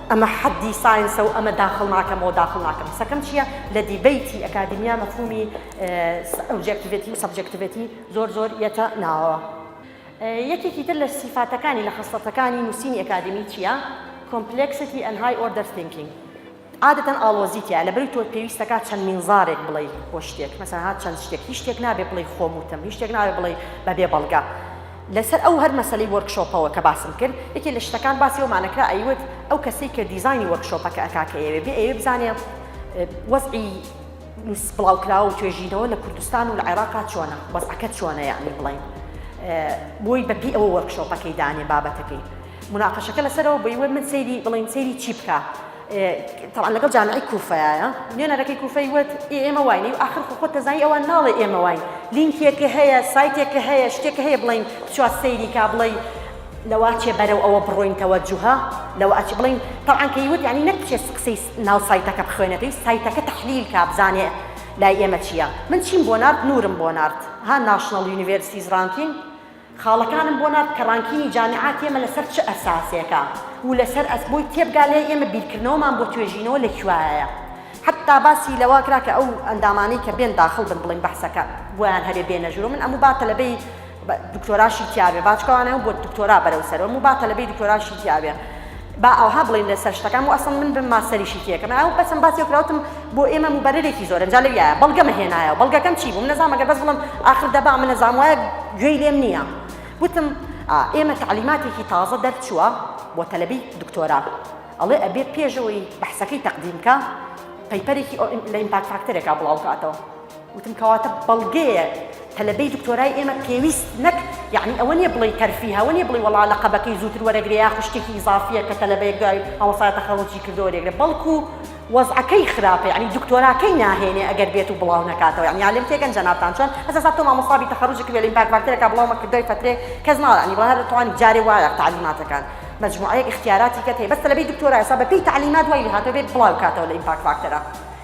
ئەمە حەدی ساینسە و ئەمە داخڵ ناکەمەوە داخڵ ناکەم قسەکەم چیە لە دیبەیتی ئەکادیمیا مەفهومی ئۆبجێکتیڤێتی و سەبجێکتیڤێتی زۆر زۆر یەتە ناوەوە یەکێکی تر لە سیفاتەکانی لە خەسڵەتەکانی نووسینی ئەکادیمی چیە کۆمپلێکسیتی ئەن های ئۆردەر ثینکینگ عادەتەن ئاڵۆزی تیا لە بەری تۆ پێویستەکە چەند مینزارێک بڵێ بۆ شتێک مەسەها چەند شتێک هیچ شتێک نابێ بڵێ خۆم وتم هیچ شتێک ناوێ بڵێ بەبێ بەڵگە لەسەر ئەو هەر مەسەلەی وۆرک شۆپەوە کە باسم کرد یەکێ لە شتەکان باسی ئەومان ئەکرا ئەیوت ئەو کەسەی کە دیزاینی وۆرک شۆپەکە ئەکا کە ئەیەوێ بێ ئەیەوێ بزانێ وەزعی نووس بڵاوکراوە و توێژینەوە لە کوردستان و لە عێراقا چۆنە وەزعەکە چۆنە یعنی بڵێین بۆی بەپی ئەوە وۆرک شۆپەکەی دانێ بابەتەکەی مناقەشەکە لەسەرەوە بۆی وت من سەیری بڵێن سەیری چی بکا تەبعەن لەگەڵ جامعەی کوفەیایە نوێنەرەکەی کوفەی وت ئێ ئێمە واین و ئاخر خۆ خۆت دەزانی ئەوان ناڵێ ئێمە واین لینکێکە هەیە سایتێکە هەیە شتێکە هەیە بڵین بچوە سەیری کا بڵێ لەوا چێ بەرەو ئەوە بڕۆین تەوەجوهە لەوە ئەچ بڵین تەبعەن کە یوت یعنی نەک چێ قسەی ناو سایتەکە بخوێنێتەوەی سایتەکە تەحلیل کا بزانێ لای ئێمە چییە من چیم بۆ نارد نورم بۆ نارد ها ناشناڵ یونیڤێرسیز ڕانکینگ خاڵەکانم بۆ نارد کە ڕانکینی جامیعاتی ئێمە لەسەر چ ئەساسێکە و لەسەر ئەس بۆی تێبگا لێی ئێمە بیرکردنەوەمان بۆ توێژینەوە لە کوایەیە حەتتا باسی لەوە کرا کە ئەو ئەندامانەی کە بێن داخڵ بن بڵێن بەحسەکە بۆیان هەبێ بێنە ژوورەوە من ئەموو با تەلەبەی دکتۆراشی تیابێ باچکەوانەوە بۆ دکتۆرا بەرەو سەرەوە ئەموو با تەلەبەی دکتۆراشی تیابێ با ئاوها بڵێین لەسەر شتەکان و ئەسڵەن من بم ماستەریشی تێکەم ئاو بەچەند باسیەک کراوتم بۆ ئێمە موبەرەرێکی زۆرە جا لەویایە بەڵگەمە هێنایەوە بەڵگەکەم چی بوو من نەزام ئەگەر بەس بڵێم ئاخر دەبا من نەزام وایە گوێی لێم نییە وتم ئێمە تەعلیماتێکی تازە دەرچووە بۆ تەلەبی دکتۆرا ئەڵێ ئەبێ پێشەوەی بەحسەکەی تەقدیم کا پەیپەرێکی لە ئیمپاکت فاکتەرێکا بڵاو کاتەوە وتم کەواتە بەڵگەیە تەلەبەی دکتۆرای ئێمە پێویست نەک یعنی ئەوە نیە بڵێ تەرفیه ئەوە نیە بڵێ وەڵا لە قەبەکەی زووتر وەرەگرێ یا خوشتێکی ئیزافیە کە تەلەبەیەک دوای مامۆستا تەخەروجی کردەوە وەرێگرێ بەڵکو وەزعەکەی خراپە یعنی دکتۆراکەی ناهێنێ ئەگەر بێت و بڵاو نەکاتەوە یعنی عالم تێگەن جەنابتان چۆن هەستا سا تۆ مامۆستا بی تەخەروج کردوێ لە ئیمپاک فاکتەرێکا بڵاو مەکرد دوای فەترێ کەس ناڵێ یعنی بەڵێ هەردەتوانی جارێ وایە تعلیماتەکان مجموعەیەک اختیاراتی کەت هەیە بەس تەلەبەی دکتۆرا ئێستا بەپێی تعلیمات وای لێهاتووە بێت بڵاو کاتەوە لە ئیمپاک فاکتەرە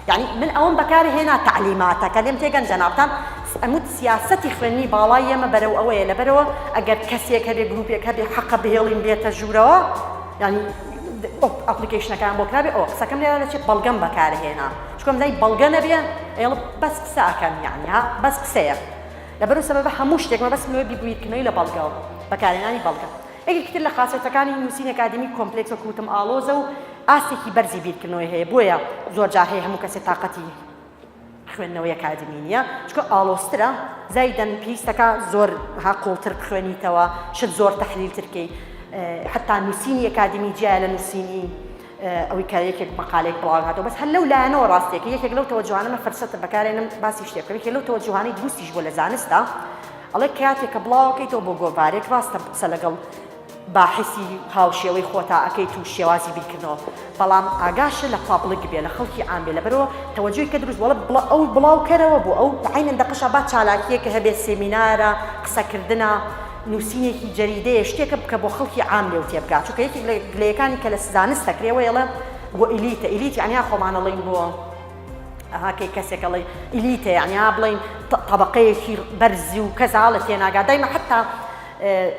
یانی من ئەوەم بەکار هێنا تەعلیماتەکە لێم تێگەن جەنابتان ئەموت سیاسەتی خوێندنی باڵای ئێمە بەرەو ئەوەیە لەبەرەوە ئەگەر کەسێک هەبێ گروپێک هەبێ حەقە بهێڵین بێتە ژوورەوە یانی ئەپلیکیشنەکان بۆ کرابێ ئەو قسەکەم لێرا دەچێت بەڵگەم بەکارهێنا چکم لای بەڵگە نەبێ ئێڵ بەس قسەکەم یانی ها بەس قسەیە لەبەرو سەبەبە هەموو شتێکمە بەس نوێ بیبوویت کمەوی لە بەڵگەوە بەکارهێنانی بەڵگە یەکێکی تر لە خاسیەتەکانی نووسینی ئەکادیمی کۆمپلێکس وەکو وتم ئاڵۆزە و ئاستێکی بەرزی بیرکردنەوەی هەیە بۆیە زۆرجار هەیە هەموو کەسێ تاقەتی خوێندنەوەی ئەکادیمی نییە چونکە ئاڵۆزترە زایدەن پێویستەکە زۆر ها قوڵتر بخوێنیتەوە شت زۆر تەحلیلتر کەی حتا نووسینی ئەکادیمی جیایە لە نووسینی ئەوی کە یەکێک مەقالێک بڵاو هاتەوە بەس هەر لەو لایەنەوە ڕاستێک یەکێک لەو تەوەجوهانە من فرسەتە بەکارێنم باسی شتێ بکەم یەکێک لەو تەوەجوهانەی دروستیش بۆ لە زانستە ئەڵێ کاتێک کە بڵاوەکەیتەوە بۆ گۆڤارێک ڕاستە قسە لەگەڵ باحسی هاوشێوەی خۆتا ئەەکەیت و شێوازی بیرکردنەوە بەڵام ئاگاشە لە پابلک بێ لە خەڵکی عام بێ لەبەرەوە تەوەجوی کە دروست وڵە بڵە ئەو بڵاوکەرەوە بۆ ئەو عینەن دەقشە با چالاکیەکە هەبێ سێمینارە قسەکردە نوسینێکی جەریدەیە شتێکە بکە بۆ خەڵکی عام لێو تێبگا چونکە یەکێک لە گلەیەکانی کە لە زانست دەکرێ وەیڵە بۆ ئیلیتە ئیلیت یەعنی خۆمان ئەڵێین بۆ ئەها کەی کەسێک ئەڵێی ئیلیتە یەعنی بڵێین تەبەقەیەکی بەرزی و کەس هەڵە تێناگا دایمە حتا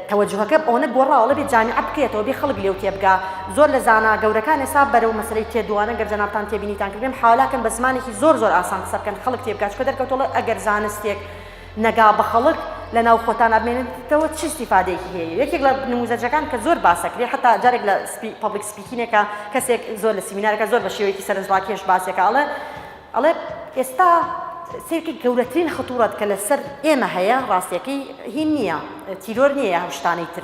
تەوەجهەکە ئەوەنە گۆڕاوەڵە بێ جامیعە بکرێتەوە بێ خەڵک لێو تێبگا زۆر لە زانا گەورەکان ئێسا بەرەو مەسەی تێدوانە گەر جەنابان تێبینیتان کردێن حالاکەن بە زمانێکی زۆر زۆر ئاسان قسە بکەن خەڵک تێبگا چکە دەرکەوتەڵە ئەگەر زانستێک نگا بە خەڵک لە ناو خۆتان ئەبمێنێتەوە چ استیفادەیەکی هەیە یەکێک لە نموزەجەکان کە زۆر باس ئەکرێ حەتا جارێک لە پەبلیک سپیکینێکا کەسێک زۆر لە سیمینارەکە زۆر بە شێوەیەکی سەرنجڕاکێش باسێکا ئەڵێ ئەڵێ ئێستا سیرکە گەورەترین خەتوڕەت کە لەسەر ئێمە هەیە ڕاستیەکەی هین نییە تیرۆر نییە هەم شتانەی تر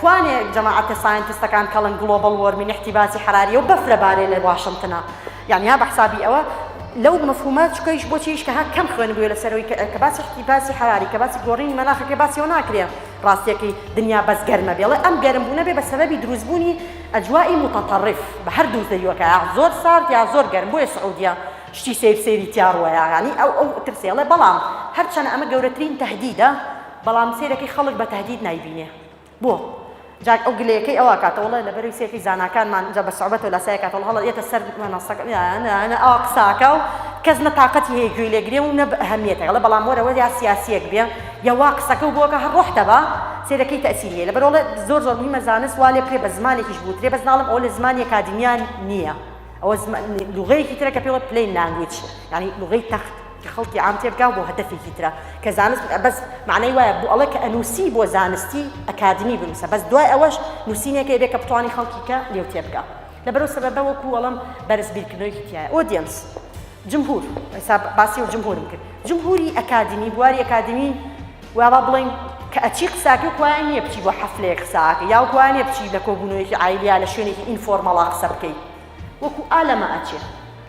کوانێ جەماعەتە ساینتستەکان کەڵن گڵۆبەڵ وۆرمین احتیباسی حەراریە و بەفرە بارێ لە واشنتنە یانی ها بەحسابی ئەوە لەو مەفهومە چکەیش بۆ چیش کە ها کەم خوێن بووە لە سەرۆی کە باسی احتیباسی حەراری کە باسی گۆڕین مەناخەکە باسی و ناکرێ ڕاستیەکەی دنیا بەس گەرمە بێڵێ ئەم گەرم بوونە بێ بە سەبەبی دروستبوونی ئەجوایی متطرف بە هەر دوو زەویەکە زۆر سارد یا زۆر گەرم بۆیە سعودیە شتی سیر سیری تیاڕوەیە یانی ئەو ئەو ترسێڵێ بەڵام هەرچەند ئەمە گەورەترین تهدیدە بەڵام سەیرەکەی خەڵک بە تەهدید نایبینێ بۆ جاک ئەو گلەیەکەی ئەوا کاتە وەڵای لەبەرەوی سەیرەکەی زاناکانمان جا بە سوعبەتەوە لاسای کاتە وەڵا هەڵە یەتە سەر مەنەسەکە یانە ئەوا قساکا و کەس نە تاقەتی هەیە گوێی لێ گرێ و نە ئەهەمیەتە گەڵە بەڵام وەرە وەریا سیاسیەک بێ یا وا قسەکە و بۆکە هەر ڕۆح دەبا سەیرەکەی تەئسیر هەیە لەبەر وەڵا زۆر زۆر مهمە زانست وا لێ بکرێ بە زمانێکیش بوترێ بەس ناڵم ئەوە لە زمانی ئەکادیمیان نییە ئەوە لوغەیەکی ترە کە پێوە پلەین لانگویچ یانی لوغەی تەخت کە خەڵکی عام تێبگا و بۆ هەدەفێکی ترە کە زانست بەس معنای وایە بۆ ئەڵێ کە ئەنووسی بۆ زانستی ئەکادمی بنووسە بەس دوای ئەوەش نووسینێکە ئەبێ کە بتوانانی خەڵکی کە لێو تێبگا لەبەرەو سەبەبە وەکو وەڵم بەرز بیرکردنەوەیەکی تایە ئۆدیەنس جمهور حساب باسی و جمهورم کرد جمهوری ئەکادمی بواری ئەکادمی وابا بڵین کە ئەچی قساکە کوان نییە بچی بۆ حەفلەیە قساکە یا کوانێ بچی لە کۆبوونەوەیەکی ئایلیا لە شوێنێکی ئینفۆرمەڵا قسە بکەیت وەکو ئالەمە ئەچێت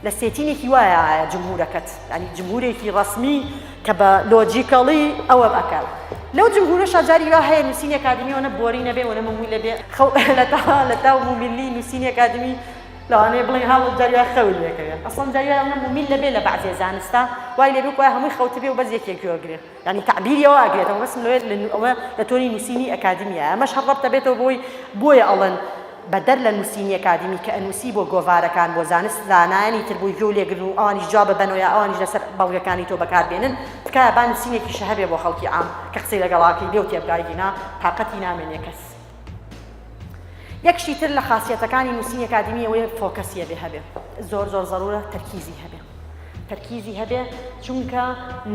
لە سێتینێکی وایە جمهورەکەت یانی جمهورێکی ڕەسمی کە بە لۆجیکەڵی ئەوە ئەکات لەو جمهورەشا جاری وا هەیە نووسینی ئەکادمی ئەوەنە بۆری نەبێ ئەوەنە مەمووی لەبێ خەو لە تەها لە تاو مومیلی نووسینی ئەکادمی لەوانەیە بڵێن هاڵ جاری وا خەوی لێکەوێ ئەسڵەن جاری وا ئەوەنە مومیل لەبێ لە بەعزێ زانستە وای لێ بێ وایە هەمووی خەوتبێ و بەس یەکێک گوێ بگرێ یانی تەعبیری ئەوە ئەگرێتەوە ڕسم لەوێ ئەوە لە تۆنی نووسینی ئەکادیمیایە ئەمەش هەر ڕەبت ئەبێتەوە بۆی بۆیە ئەڵێن بەدەر لە نووسینی ئەکادیمی کە ئەنووسی بۆ گۆڤارەکان بۆ زانست زانایانی تر بۆی گوێ لێگرن و ئەوانیش جواب ببەنەوە یا ئەوانیش لەسەر بەڵگەکانی تۆ بەکار بێنن تکایە با نووسینێکیشە هەبێ بۆ خەڵکی عام کە قسەی لەگەڵا کەی لێو تێبگا ئیگینا تاقەتی نامێنێ کەس یەکشی تر لە خاسیەتەکانی نووسینی ئەکادیمی ئەوەیە فۆکەسی هەبێ هەبێ زۆر زۆر زەرورە تەرکیزی هەبێ تەرکیزی هەبێ چونکە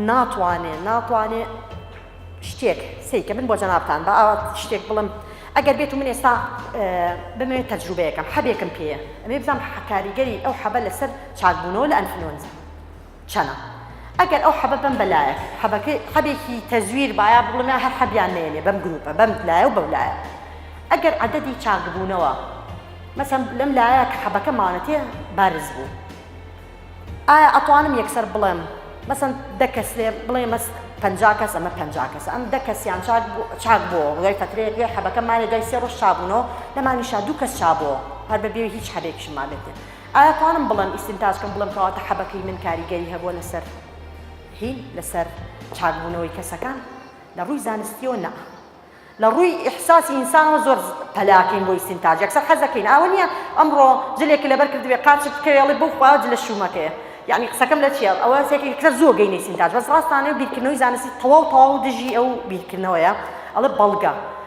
ناتوانێ ناتوانێ شتێک سیکە من بۆ جەنابان بە ئاوات شتێک بڵم ئەگەر بێت و من ئێستا بمەوێت تەجروبەیەکەم حەبێکم پێەیە ئەمێ بزانام حکاریگەری ئەو حەبە لەسەر چاکبوونەوە لە ئەنفلۆنزا چەنە ئەگەر ئەو حەبە بەم بەلایەس حەبەکەی حەبێکی تەزویر بایە بڵێم یا هەر حەبیان نێنێ بەم گروپە بەم لایە و بەو لایە ئەگەر عەدەدی چاکبوونەوە مەسەن لەم لایە کە حەبەکە ماونەتێ بارز بوو ئایا ئەتوانم یەکسەر بڵێم مەسەن دە کەس لێ بڵێ مەس پەنجا کەس ئەمە پەنجا کەس ئەم دە کەسیان چاک بوو چاک بووە دوای فەترەیەک لێ حەبەکە مانێ دوای سێ ڕۆژ چابوونەوە لەمانیشا دوو کەس چابووە هەر بەبێ هیچ حەبێکیشمان بێت ئایا توانم بڵێم ئیستینتاج کەم بڵێم کەواتە حەبەکەی من کاریگەری هەبووە لەسەر هین لەسەر چاک بوونەوەی کەسەکان لە ڕووی زانستیەوە نا لە ڕووی ئیحساسی ئینسانەوە زۆر پەلاکەین بۆ ئیستینتاج یەکسەر حەزەکەین ئاوە نییە ئەمڕۆ جلێک لەبەر کردبێ قاچت بکەوێڵی بۆ خوا جلە شومەکەیە یعنی قسەکەم لە چیە ئەوە سێکی یەکسەر زۆر گەینە ئیستینتاج بەس ڕاستانە بیرکردنەوەی زانستی تەواو تەواو دژی ئەو بیرکردنەوەیە ئەڵێ بەڵگە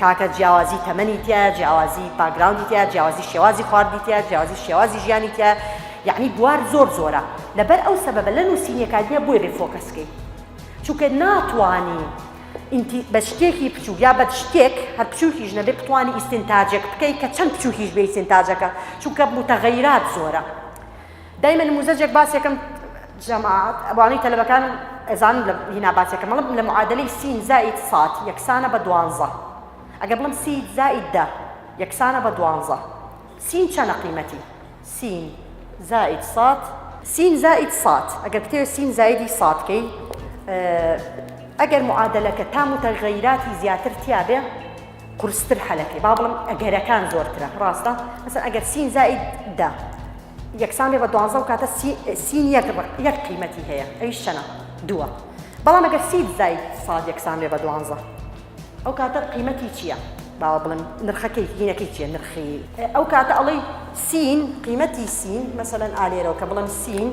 کاکە جیاوازی تەمەنی تیایە جیاوازی باکگراوندی تیایە جیاوازی شێوازی خواردنی تیایە جیاوازی شێوازی ژیانی تیایە یەعنی بوار زۆر زۆرە لەبەر ئەو سەبەبە لە نووسینی ئەکادیمیا بۆیە بێ فۆکەس کەی چونکە ناتوانی ئینتی بە شتێکی بچووک یا بە شتێک هەر بچووکیش نەبێ بتوانی ئیستنتاجێک بکەی کە چەند بچووکیش بێ ئیستنتاجەکە چونکە متغیرات زۆرە دایمە نموزەجێک باسێکەم جەماعەت ئەوانەی تەلەبەکانم ئەزانن لە هینا باسێکەم مەڵم لە معادلەی سین زائید ساد یەکسانە بە دوانزە ئەگەر بڵم سید زائید دە یەکسانە بە دوانزە سین چەنە قیمەتی سین زائید ساد سین زائید ساد ئەگەر بتێ سین زایدی سادکەی ئەگەر معادلەکە تام و تەغەیراتی زیاتر تیاێ قورستر حەلەکەی با بڵێم ئەگەرەکان زۆرترە ڕاستە مەسەن ئەگەر سین زائید دە یەکسان بێ بە دوانزە و کاتە سین یەک یەک قیمەتی هەیە ئەویش چەنە دووە بەڵام ئەگەر سید زای ساد یەکسان بێ بە دوانزە ئەو کاتە قیمەتی چییە باوە بڵم نرخەکەی هینەکەی چیە نرخی ئەو کاتە ئەڵی سین قیمەتی سین مەسەەن ئالێرەوە کە بڵم سین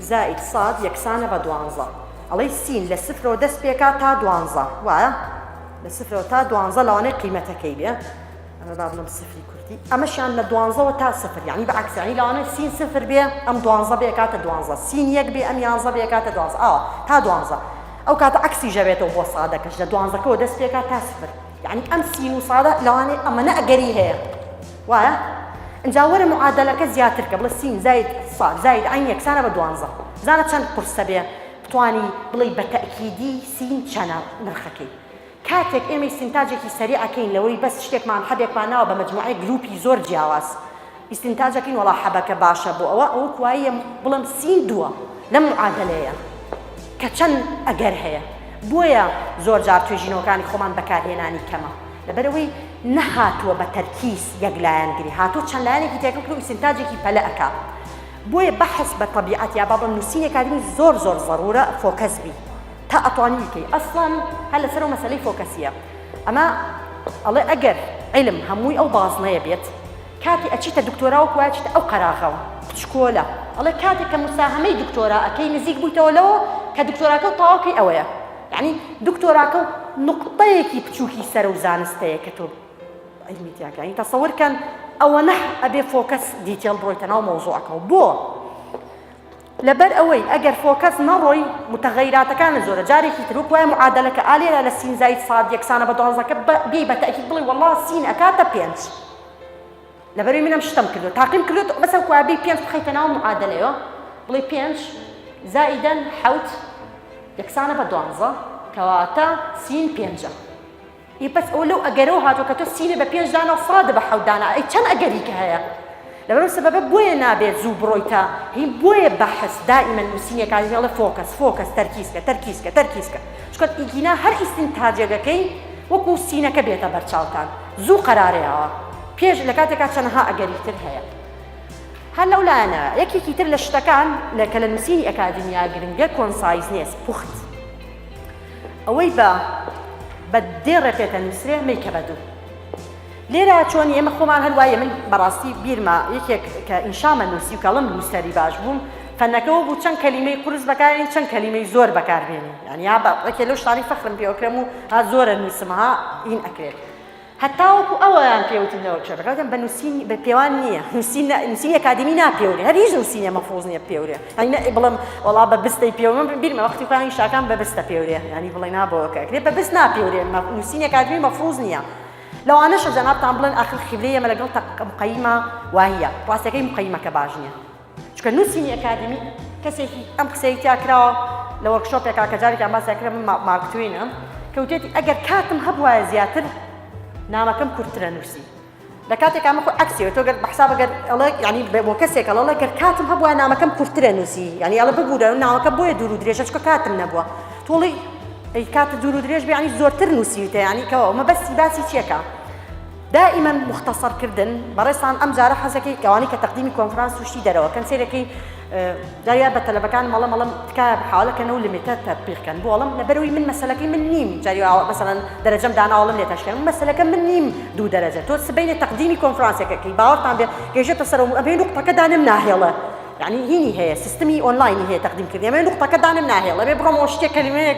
زائید ساد یەکسانە بە دوانزە ئەڵی سین لە سفرەوە دەست پێکا تا دوانزە وایە لە سفرەوە تا دوانزە لەوانەیە قیمەتەکەی بێ ئەمە با بڵم سفری کوردی ئەمەشیان لە دوانزەوە تا سفر یعنی بە عکسانی لەوانەیە سین سفر بێ ئەم دوانزە بێ کاتە دوانزە سین یەک بێ ئەم یانزە بێ کاتە دوانزە ئاوە تا دوانزە ئەو کاتە عکسی ژەبێتەوە بۆ سادەکەش لە دوانزەکەەوە دەست پێکا تا سفر یعنی ئەم سین و سادە لەوانەیە ئەمەە ئەگەری هەیە وایە ئەجا وەرە معادلەکە زیاتر کە بڵە سین زایت سا زایت عین یەکسانە بە دوانزە زانە چەند قرسە بێ توانی بڵێی بە تەئکیدی سین چەنە نرخەکەی؟ کاتێک ئێمەی ئیستینتاجێکی سەریع ئەکەین لەوەی بەس شتێکمان حەبێکمان ناوە بە مەجموعەی گروپی زۆر جیاواز ئیستینتاج ئەکەین وەڵا حەبەکە باشە بۆ ئەوە ئەوە کواییە بڵێم سین دووە لەم معادەلەیە کە چەند ئەگەر هەیە بۆیە زۆر جار توێژینەوەکانی خۆمان بەکارهێنانی کەمە لەبەرەوەی نەهاتووە بە تەرکیز یەک لایەنگری هاتووە چەند لایەنێکی تێکەڵ کرد و ئیستینتاجێکی پەلە ئەکا بۆیە بەحس بە تەبیعەت یا با بڵێم نوسینێ کاری زۆر زۆر زەرورە فۆکەس بی تا ئەتوانی بیکەی ئەسڵەن هەر لەسەر ئەو مەسەلەی فۆکەسیە ئەمە ئەڵێ ئەگەر علم هەمووی ئەو بازنەیە بێت کاتی ئەچیتە دکتۆرا و کوچیتە ئەو قەراغەوە پچکۆلە ئەڵێ کاتێک کە مساهەمەی دکتۆرا ئەەکەی نزیک بوویتەوە لەوە کە دکتۆراکە و تەواوکەی ئەوەیە یعنی دکتۆراکە و نقطەیەکی بچووکی سەرە و زانستەیە کە تۆ علمی تیاکە یعنی تەسەور کەن ئەوەنە ئەبێ فۆکەس دیتێڵ بڕۆیتە ناو مەوزوعەکەەوە بۆ لەبەر ئەوەی ئەگەر فۆکەس نەڕۆی متەغیراتەکانە زۆرە جارێکی تر وکوای معادلەکە ئالێرا لە سین زایت ساد یەکسانە بە دوانزەکە بێ بە تاکی بڵی وڵا سین ئەکاتە پێنج لەبەروی منم شتم کردو تاقیم کردوت بەسە کوابی پێنج بخیتە ناو معادلەیە بڵی پێنج زائیدەن حوت یەکسانە بە دوانزە کەواتە سین پێنجە ئێ بەس ئەوە لەو ئەگەرەوە هاتووە کە تۆ سینە بە پێنج دانە و فڕاتدە بە حەوت دانە ئەی چەند ئەگەریکە هەیە لەبەرو سەبەبە بۆیە نابێت زوو بڕۆیتە هین بۆیە بەحس دائیمە نووسینێکا هێڵە فۆکەس فۆکەس تەرکیزکە تەرکیزکە تەرکیزکە چونکە ئیگینا هەر ئیستنتاجەگەکەی وەکو سینەکە بێتە بەرچاوتان زوو قەرارەیەوە پێش لە کاتێکا چەندەها ئەگەری تر هەیە هەر لەو لایەنە یەکێکی تر لە شتەکان لە کە لە نووسینی ئەکادیمیا گرنگە کۆنسایزنێس پوخت ئەوەی بە بە دێ ڕێ پێ دەنووسرێ مەیکە بە دوو. لێرە چۆنی ئێمە خۆمان هەروایە من بەڕاستی بیرمە یەکێک کە ئینشامە نووسی و کەڵم نووسەری باش بووم فەنەکەەوە بوو چەند کەلیمەی قرس بەکارێن چەند کەلیمەی زۆر بەکاربێنی یانیا بەڕێکێ لەو شتانی فەخرم پێوەکرم و ها زۆرە نووسمها ئین ئەکرێت هەتاوەکو ئەوەیان پێ وتم نەوە بچێ بەگەڵ دەم بە نووسین بە پێوان نییە نووسین نووسینی ئەکادیمی ناپێورێ هەر هیچ نووسینێ مەفروز نییە بپێورێ یانی نە بڵێم وەڵا بە بستەی پێورێ من بیرمە وەختی خۆیان ئینشاکان بە بستە پێورێ یانی بڵێی نا بۆ ئەوکە کرێ بە بست ناپێورێ نووسینی ئەکادیمی مەفروز نییە لەوانەشە جەنابتان بڵێن ئاخر قیبلەی ئێمە لەگەڵ تەق مقەیمە واهییە ڕاستەکەی مقەیمەکە باش نییە چونکە نوسینی ئەکادیمی کەسێکی ئەم قسەی تیا کراوە لە وۆرکشۆپێکا کە جارێکیان باسیان کردم من مارک توینم کە وتێتی ئەگەر کاتم هەبوایە زیاتر نامەکەم کورتترە نووسی لە کاتێکا من خۆ عکسیەوە تۆ گەر بەحساب گەر ئەڵێ ینی بۆ کەسێک ئەڵە گەر کاتم هەبووە نامەکەم کورتترە نووسی ینی ئەڵە ببوورە ناوەکە بۆیە دوور و درێژە چکە کاتم نەبووە تۆڵی ئەی کات دوور و درێژ بیانی زۆرتر نووسیوتە ینی کەەوە مە بەستی باسی چیەکە دائما مختصر کردن بەڕێزتان ئەم جارە حەزەکەی ئەوانەی کە تەقدیمی کۆنفرانس و شتی دەرەوە کەن سەیرەکەی داویان بە تەلەبەکان مەڵە مەڵم تکایە حاڵە کەن و لمیتە تەبیق کەن بۆ ئەڵم لەبەروی من مەسەلەکەی من نیم جاری مثلا دەرەجەم داناوەڵم لێ تەشکەن مەسەلەکە من نیم دوو دەرەجە تۆ سبەینێ تەقدیمی کۆنفرانسەکەکەی باوەڕتان بێ گەیشتە سەر و ئەبێ نقطەکە دانم ناهێڵە یعنی هینی هەیە سیستمی ئۆنلاینی هەیە تەقدیم کردنی ئەبێ نقطەکە دانم ناهێڵە ئەبێ بڕۆمەوە شتێک کەلیمەیەک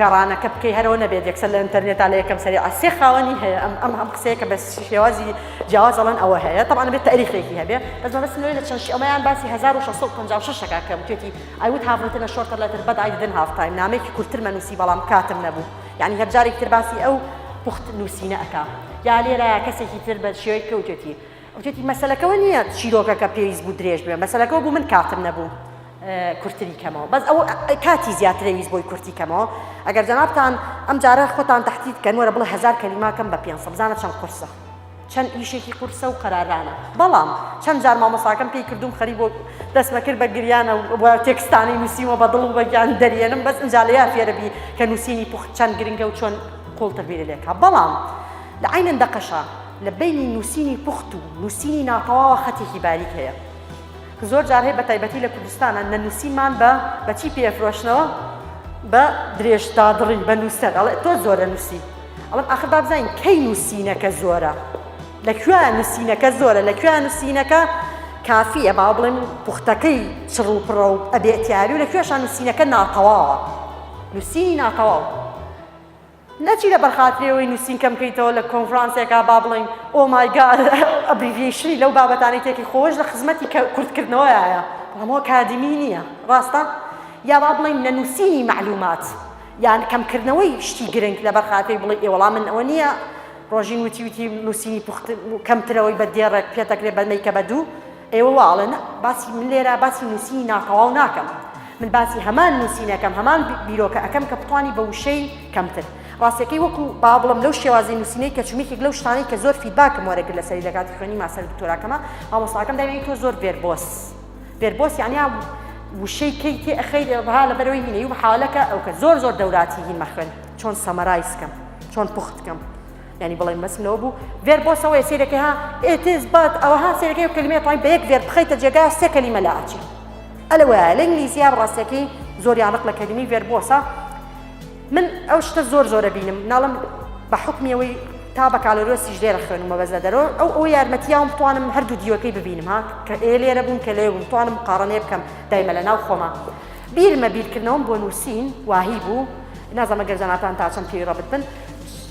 گەڕانەکە بکەی هەرەوە نەبێت یەکسەر لە ئینتەرنێتا لە یەکەم سەری عسێ خاوەنی هەیە ئەم ئەم هەم قسەیە کە بە شێوازی جیاواز ئەڵەن ئەوە هەیە تەوان بێت تاریخێکی هەبێ بەس مەبەست لە چەند ئەمەیان باسی 1656 شەکە کەم توێتی ئەوت هاڤتنە شۆرتە لەتر بەدای دن هافتایم نامێکی کورتتر مەنووسی بەڵام کاتم نەبوو یعنی هەرجارێک تر باسی ئەو پوخت نووسینە ئەکا یا لێرە کەسێکی تر بە شێوەی کەوتێتی وتێتی مەسلەکەەوە نییە چیرۆکەکە پێویست بوو درێژ بێ مەسلەکەەوە بوو من کاتم نەبوو کورتری کەمەوە بەس ئەو کاتی زیاترە ویست بۆی کورتی کەمەوە ئەگەر جەنابتان ئەم جارە خۆتان تەحتیت کەن وەرە بڵێ هزار کەلیماکەم بە پێ سەبزانە چەند قرسە چەند ئیشێکی قورسە و قەرارانە بەڵام چەند جار مامەساکەم پێی کردوم خەری بۆ دەستمەکرد بە گریانە و تێکستانی نووسیمە بە دڵ و بەگیان دەریێنم بەس ئەنجالەیە فێرەبی کە نووسینی پوخت چەند گرنگە و چۆن قوڵتر بیرە لێکا بەڵام لە عینەن دەقەشە لە بینی نووسینی پوخت و نووسینی ناتەواوە خەتێکی باریک هەیە کە زۆر جار هەیە بەتایبەتی لە کوردستانا نەنووسیمان بە بە چی پێ ئەفرۆشنەوە بە درێژ دادڕی بە نووسەر ئەڵێ تۆ زۆرە نووسی ئەڵم ئاخر با بزانین کەی نووسینەکە زۆرە لە کوێیان نووسینەکە زۆرە لە کوێیان نووسینەکە کافیە با بڵێن پوختەکەی چڕ و پڕە و ئەبێتیاری و لە کوێشان نووسینەکە ناتەواوە نووسینی ناتەواو نەچی لەبەر خاتری ئەوەی نوسین کەم کەیتەوە لە کۆنفرانسێکا با بڵێین ئۆ مای گاد ئەبریڤیەیشنی لەو بابەتانەی تێکی خۆش لە خزمەتی کورت کردنەوەیایە بەڵام ئەکادیمی نییە ڕاستە یا با بڵێین نەنوسینی معلومات یان کەم کردنەوەی شتی گرنگ لەبەر خاتری بڵێ ئێ وەڵام من ئەوە نییە ڕۆژین وتی وتی نوسینی پوخت کەمترەوەی بە دێڕێک پێتەکرێ بە مەیکە بە دوو ئێ وەڵا ئەڵێ نا باسی من لێرە باسی نووسینی ناتەواو ناکەم من باسی هەمان نووسینەکەم هەمان بیرۆکە ئەەکەم کە بتانی بە وشەی کەمتر ڕاستەکەی وەکو با بڵم لەو شێوازی نووسینەی کە چومێکێک لەو شتانەی کە زۆر فیدباکم وەرەگر لە سەری لەکاتی خوێنی ماسەر دکتۆراکەمە مامۆستاکەم داوێنی تۆ زۆر ڤێربۆس ڤێربۆس یعنی وشەی کەی تێ ئەخەی دەبها لە بەرەوەی هینەی و حالەکە ئەو کە زۆر زۆر دەوراتی هین مەخوێن چۆن سەمەرایسکەم چۆن پوختکەم یانی بڵێن مەسم لەوە بوو ڤێر بۆ سەوەیە سیرەکە ها ئێتز بات ئەوە ها سیرەکەی و کلمێ توانی بە یەک ڤێر بخەیتە جێگا سێ کەلیمە لە ئاچی ئەلە وایە لە ئینگلیزیە ڕاستەکەی زۆری عرق لە کەلیمی ڤێر بۆسە من ئەو شتە زۆر زۆرە بینم ناڵم بە حکمیەوەی تا بە کالۆرۆسیش لێرە خوێنمە بەزە دەرۆ ئەو ئەو یارمەتیاوم بتوانم هەردوو دیوەکەی ببینم ها کە ئێ لێرە بووم کە لێ بووم توانم قاڕنێ بکەم دایمە لە ناو خۆمە بیرمە بیرکردنەوەم بۆ نووسین واهی بوو نازەمە گەرجاناتان تا چەند پێی ڕەبت بن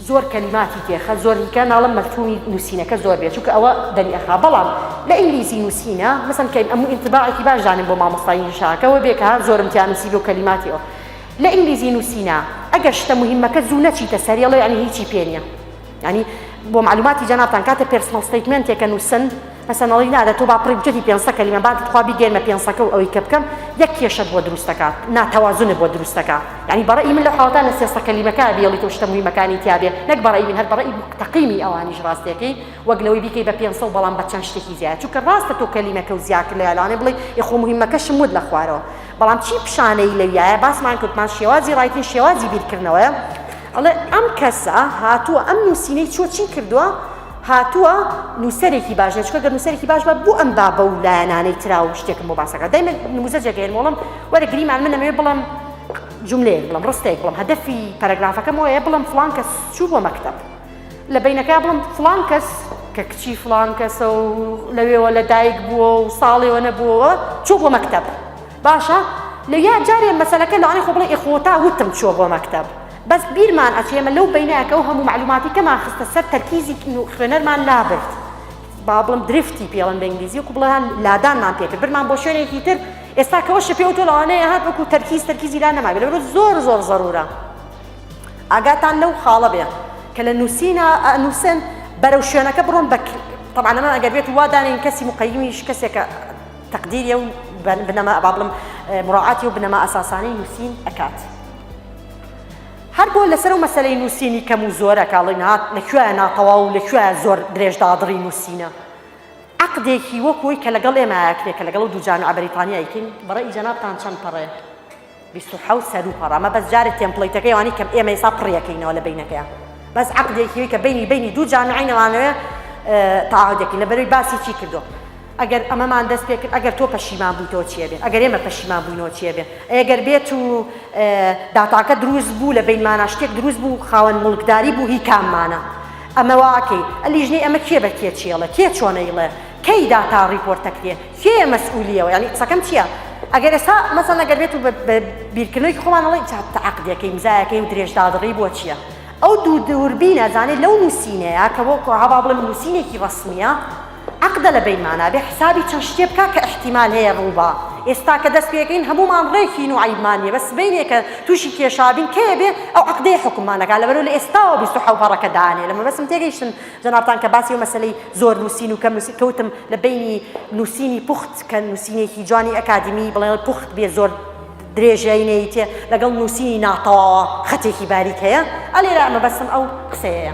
زۆر کەلیماتی تێخە زۆر هیکە ناڵم مەلتوونی نووسینەکە زۆر بێ چونکە ئەوە دەمی ئەخا بەڵام لە ئینگلیزی نووسینە مەسەن کەین ئەموو ئینتباعێکی باش دانێم بۆ مامۆستای ئینگلیشاکەوە بێ کە زۆرم تیا نووسیبێ و کەلیماتی ئەو لە ئینگلیزی نووسینە ئەگەر شتە مهمەکە زوو نەچیتە سەری ئەڵێ یانی هیچی پێ نییە یانی بۆ معلوماتی جەنابتان کاتێ پێرسنەڵ ستەیتمێنتێکە نووسن پسنڵی نادە تۆ با پڕی بچێتی پێنسە کەلیمە با تخوا بیگێرمە پێنسەکە و ئەوەی کە بکەم یەک کێشەت بۆ دروست دەکات ناتەوازنت بۆ دروست دەکا یعنی بە ڕەئی من لە حاڵەتە لە سێسە کەلیمەکە بیڵیت و شتە مویمەکانی تیاێ نەک بە ڕەئی من هەر بە ڕەئی تەقیمی ئەوانیش ڕاستیەکەی وەک لەوەی بیکەی بە پێنسە و بەڵام بە چەند شتێکی زیاد چونکە ڕاستە تۆ کەلیمەکە و زیاتر لە یالانێ بڵێ یخۆ مهمەکەشم وت لە خوارەوە بەڵام چی پیشانەی لەویایە باسمان کردمان شێوازی ڕایتین شێوازی بیرکردنەوەیە ئەڵێ ئەم کەسە هاتووە ئەم نووسینەی چۆ چی کردووە هاتووە نووسەرێکی باش نیە چکە گەر نووسەرێکی باش بە بۆ ئەم بابە و لایەنانەی ترا و شتێکم بۆ باسەکە دایمە نموزەجێک هێن وڵم وەرە گریمان من نەمەوێ بڵم جملەیە بڵم ڕستێک بڵم هەدەفی پەرەگرافەکەم وەیە بڵم فلان کەس چوو بۆ مەکتب لە بینەکە بڵم فلان کەس کە کچی فلان کەسە و لەوێوە لە دایک بووە و ساڵێوە نەبووەوە چوو بۆ مەکتب باشە لە یا جارێ مەسلەکە لەوانی خۆ بڵێ ئێخۆتا وتم چوە بۆ مەکتب بەس بیرمان ئەچێ ئێمە لەو بەینایە کەو هەموو مەعلوماتی کەمان خستە سەر تەرکیزی خوێنەرمان لابرد با بڵم درفتی پێڵن بە ئینگلیزی وکو بڵێن لادانمان پێکرد برمان بۆ شوێنێکی تر ئێستا کەەوە شە پێوتۆ لەوانەیە هات وەکو تەرکیز تەرکیزی لا نەما لەورە زۆر زۆر زەرورە ئاگاتان لەو خاڵە بێ کە لە نووسینە نووسن بەرەو شوێنەکە بڕۆن بە طبعا لەمە ئەگەر بێت وادانین کەسی مقیمیش کەسێکە تقدیری و بنەما بابلم مراعاتی و بنەما ئەساسانی نووسین ئەکات. هەر بۆ لەسەر ئەو مەسەلەی نووسینی کەم و زۆرە کە ئەڵێن هات لە کوێیە ناتەواو و لە کوێیە زۆر درێژ دادڕی نووسینە عەقدێکی وەک ئەوی کە لەگەڵ ئێمەیە کرێ کە لەگەڵ دوو جامعە بەریتانیای کین بەڕێی جەنابتان چەند پەڕەیە بیست و حەوت سەر و پەڕە ئەمە بەس جارێ تێمپڵەیتەکەی ئەوانەی کە ئێمە ئێستا پڕیەکەینەوە لە بینەکەیان بەس عەقدێکی وەی کە بینی بینی دوو جامعەی نەوانەوێ تەعاهودێکی لەبەروی باسی چی کردووە ئەگەر ئەمەمان دەست پێ کرد ئەگەر تۆ پەشیمان بویتەوە چی ئەبێ ئەگەر ئێمە پەشیمان بوینەوە چی ئەبێ ئەی ئەگەر بێت و داتاکە دروست بوو لە بینمانا شتێک دروست بوو خاوەن موڵکداری بوو هی کاممانە ئەمە واکەی ئەلیژنەی ئەمە کێ بە کێ چێڵە کێ چۆنەیڵێ کەی داتا ڕیپۆرتەکرێ کێ مەسئولیەوە ینی قسەکەم چییە ئەگەر ئێستا مەسە نەگەر بێت و بیرکردنەوەی خۆمانەڵی تاعقدەکەی مزایەکەی و درێژدادڕی بۆ چییە ئەو دوو دووربینە زانێت لەو نووسینەیە کە بۆ کۆهاوا بڵێم نووسینێکی ڕسمیە عەقدە لە بەین مانا بێ حسابی چەند شتێ بکا کە ئیحتیمال هەیە ڕوو با ئێستا کە دەست پێکەین هەموومان ڕێکین و عەیبمان نیە بەس سبەینێ کە تووشی کێشابین کەێ بێ ئەو عەقدەیە حوکممان ئەکا لەبەرو لە ئێستاوە بیست و حەو پەڕەکە دانێ لە مەبەستم تێگەیشتن جەنابتان کە باسی ئەو مەسەلەی زۆر نووسین و کەم نووسین کەوتم لە بەینی نووسینی پوخت کە نووسینێکی جوانی ئەکادیمی بڵێ پوخت بێ زۆر درێژایی نەیتێ لەگەڵ نووسینی ناتەواوە خەتێکی باریک هەیە ئەلێرا ئەمە بەسم ئەو قسەیە.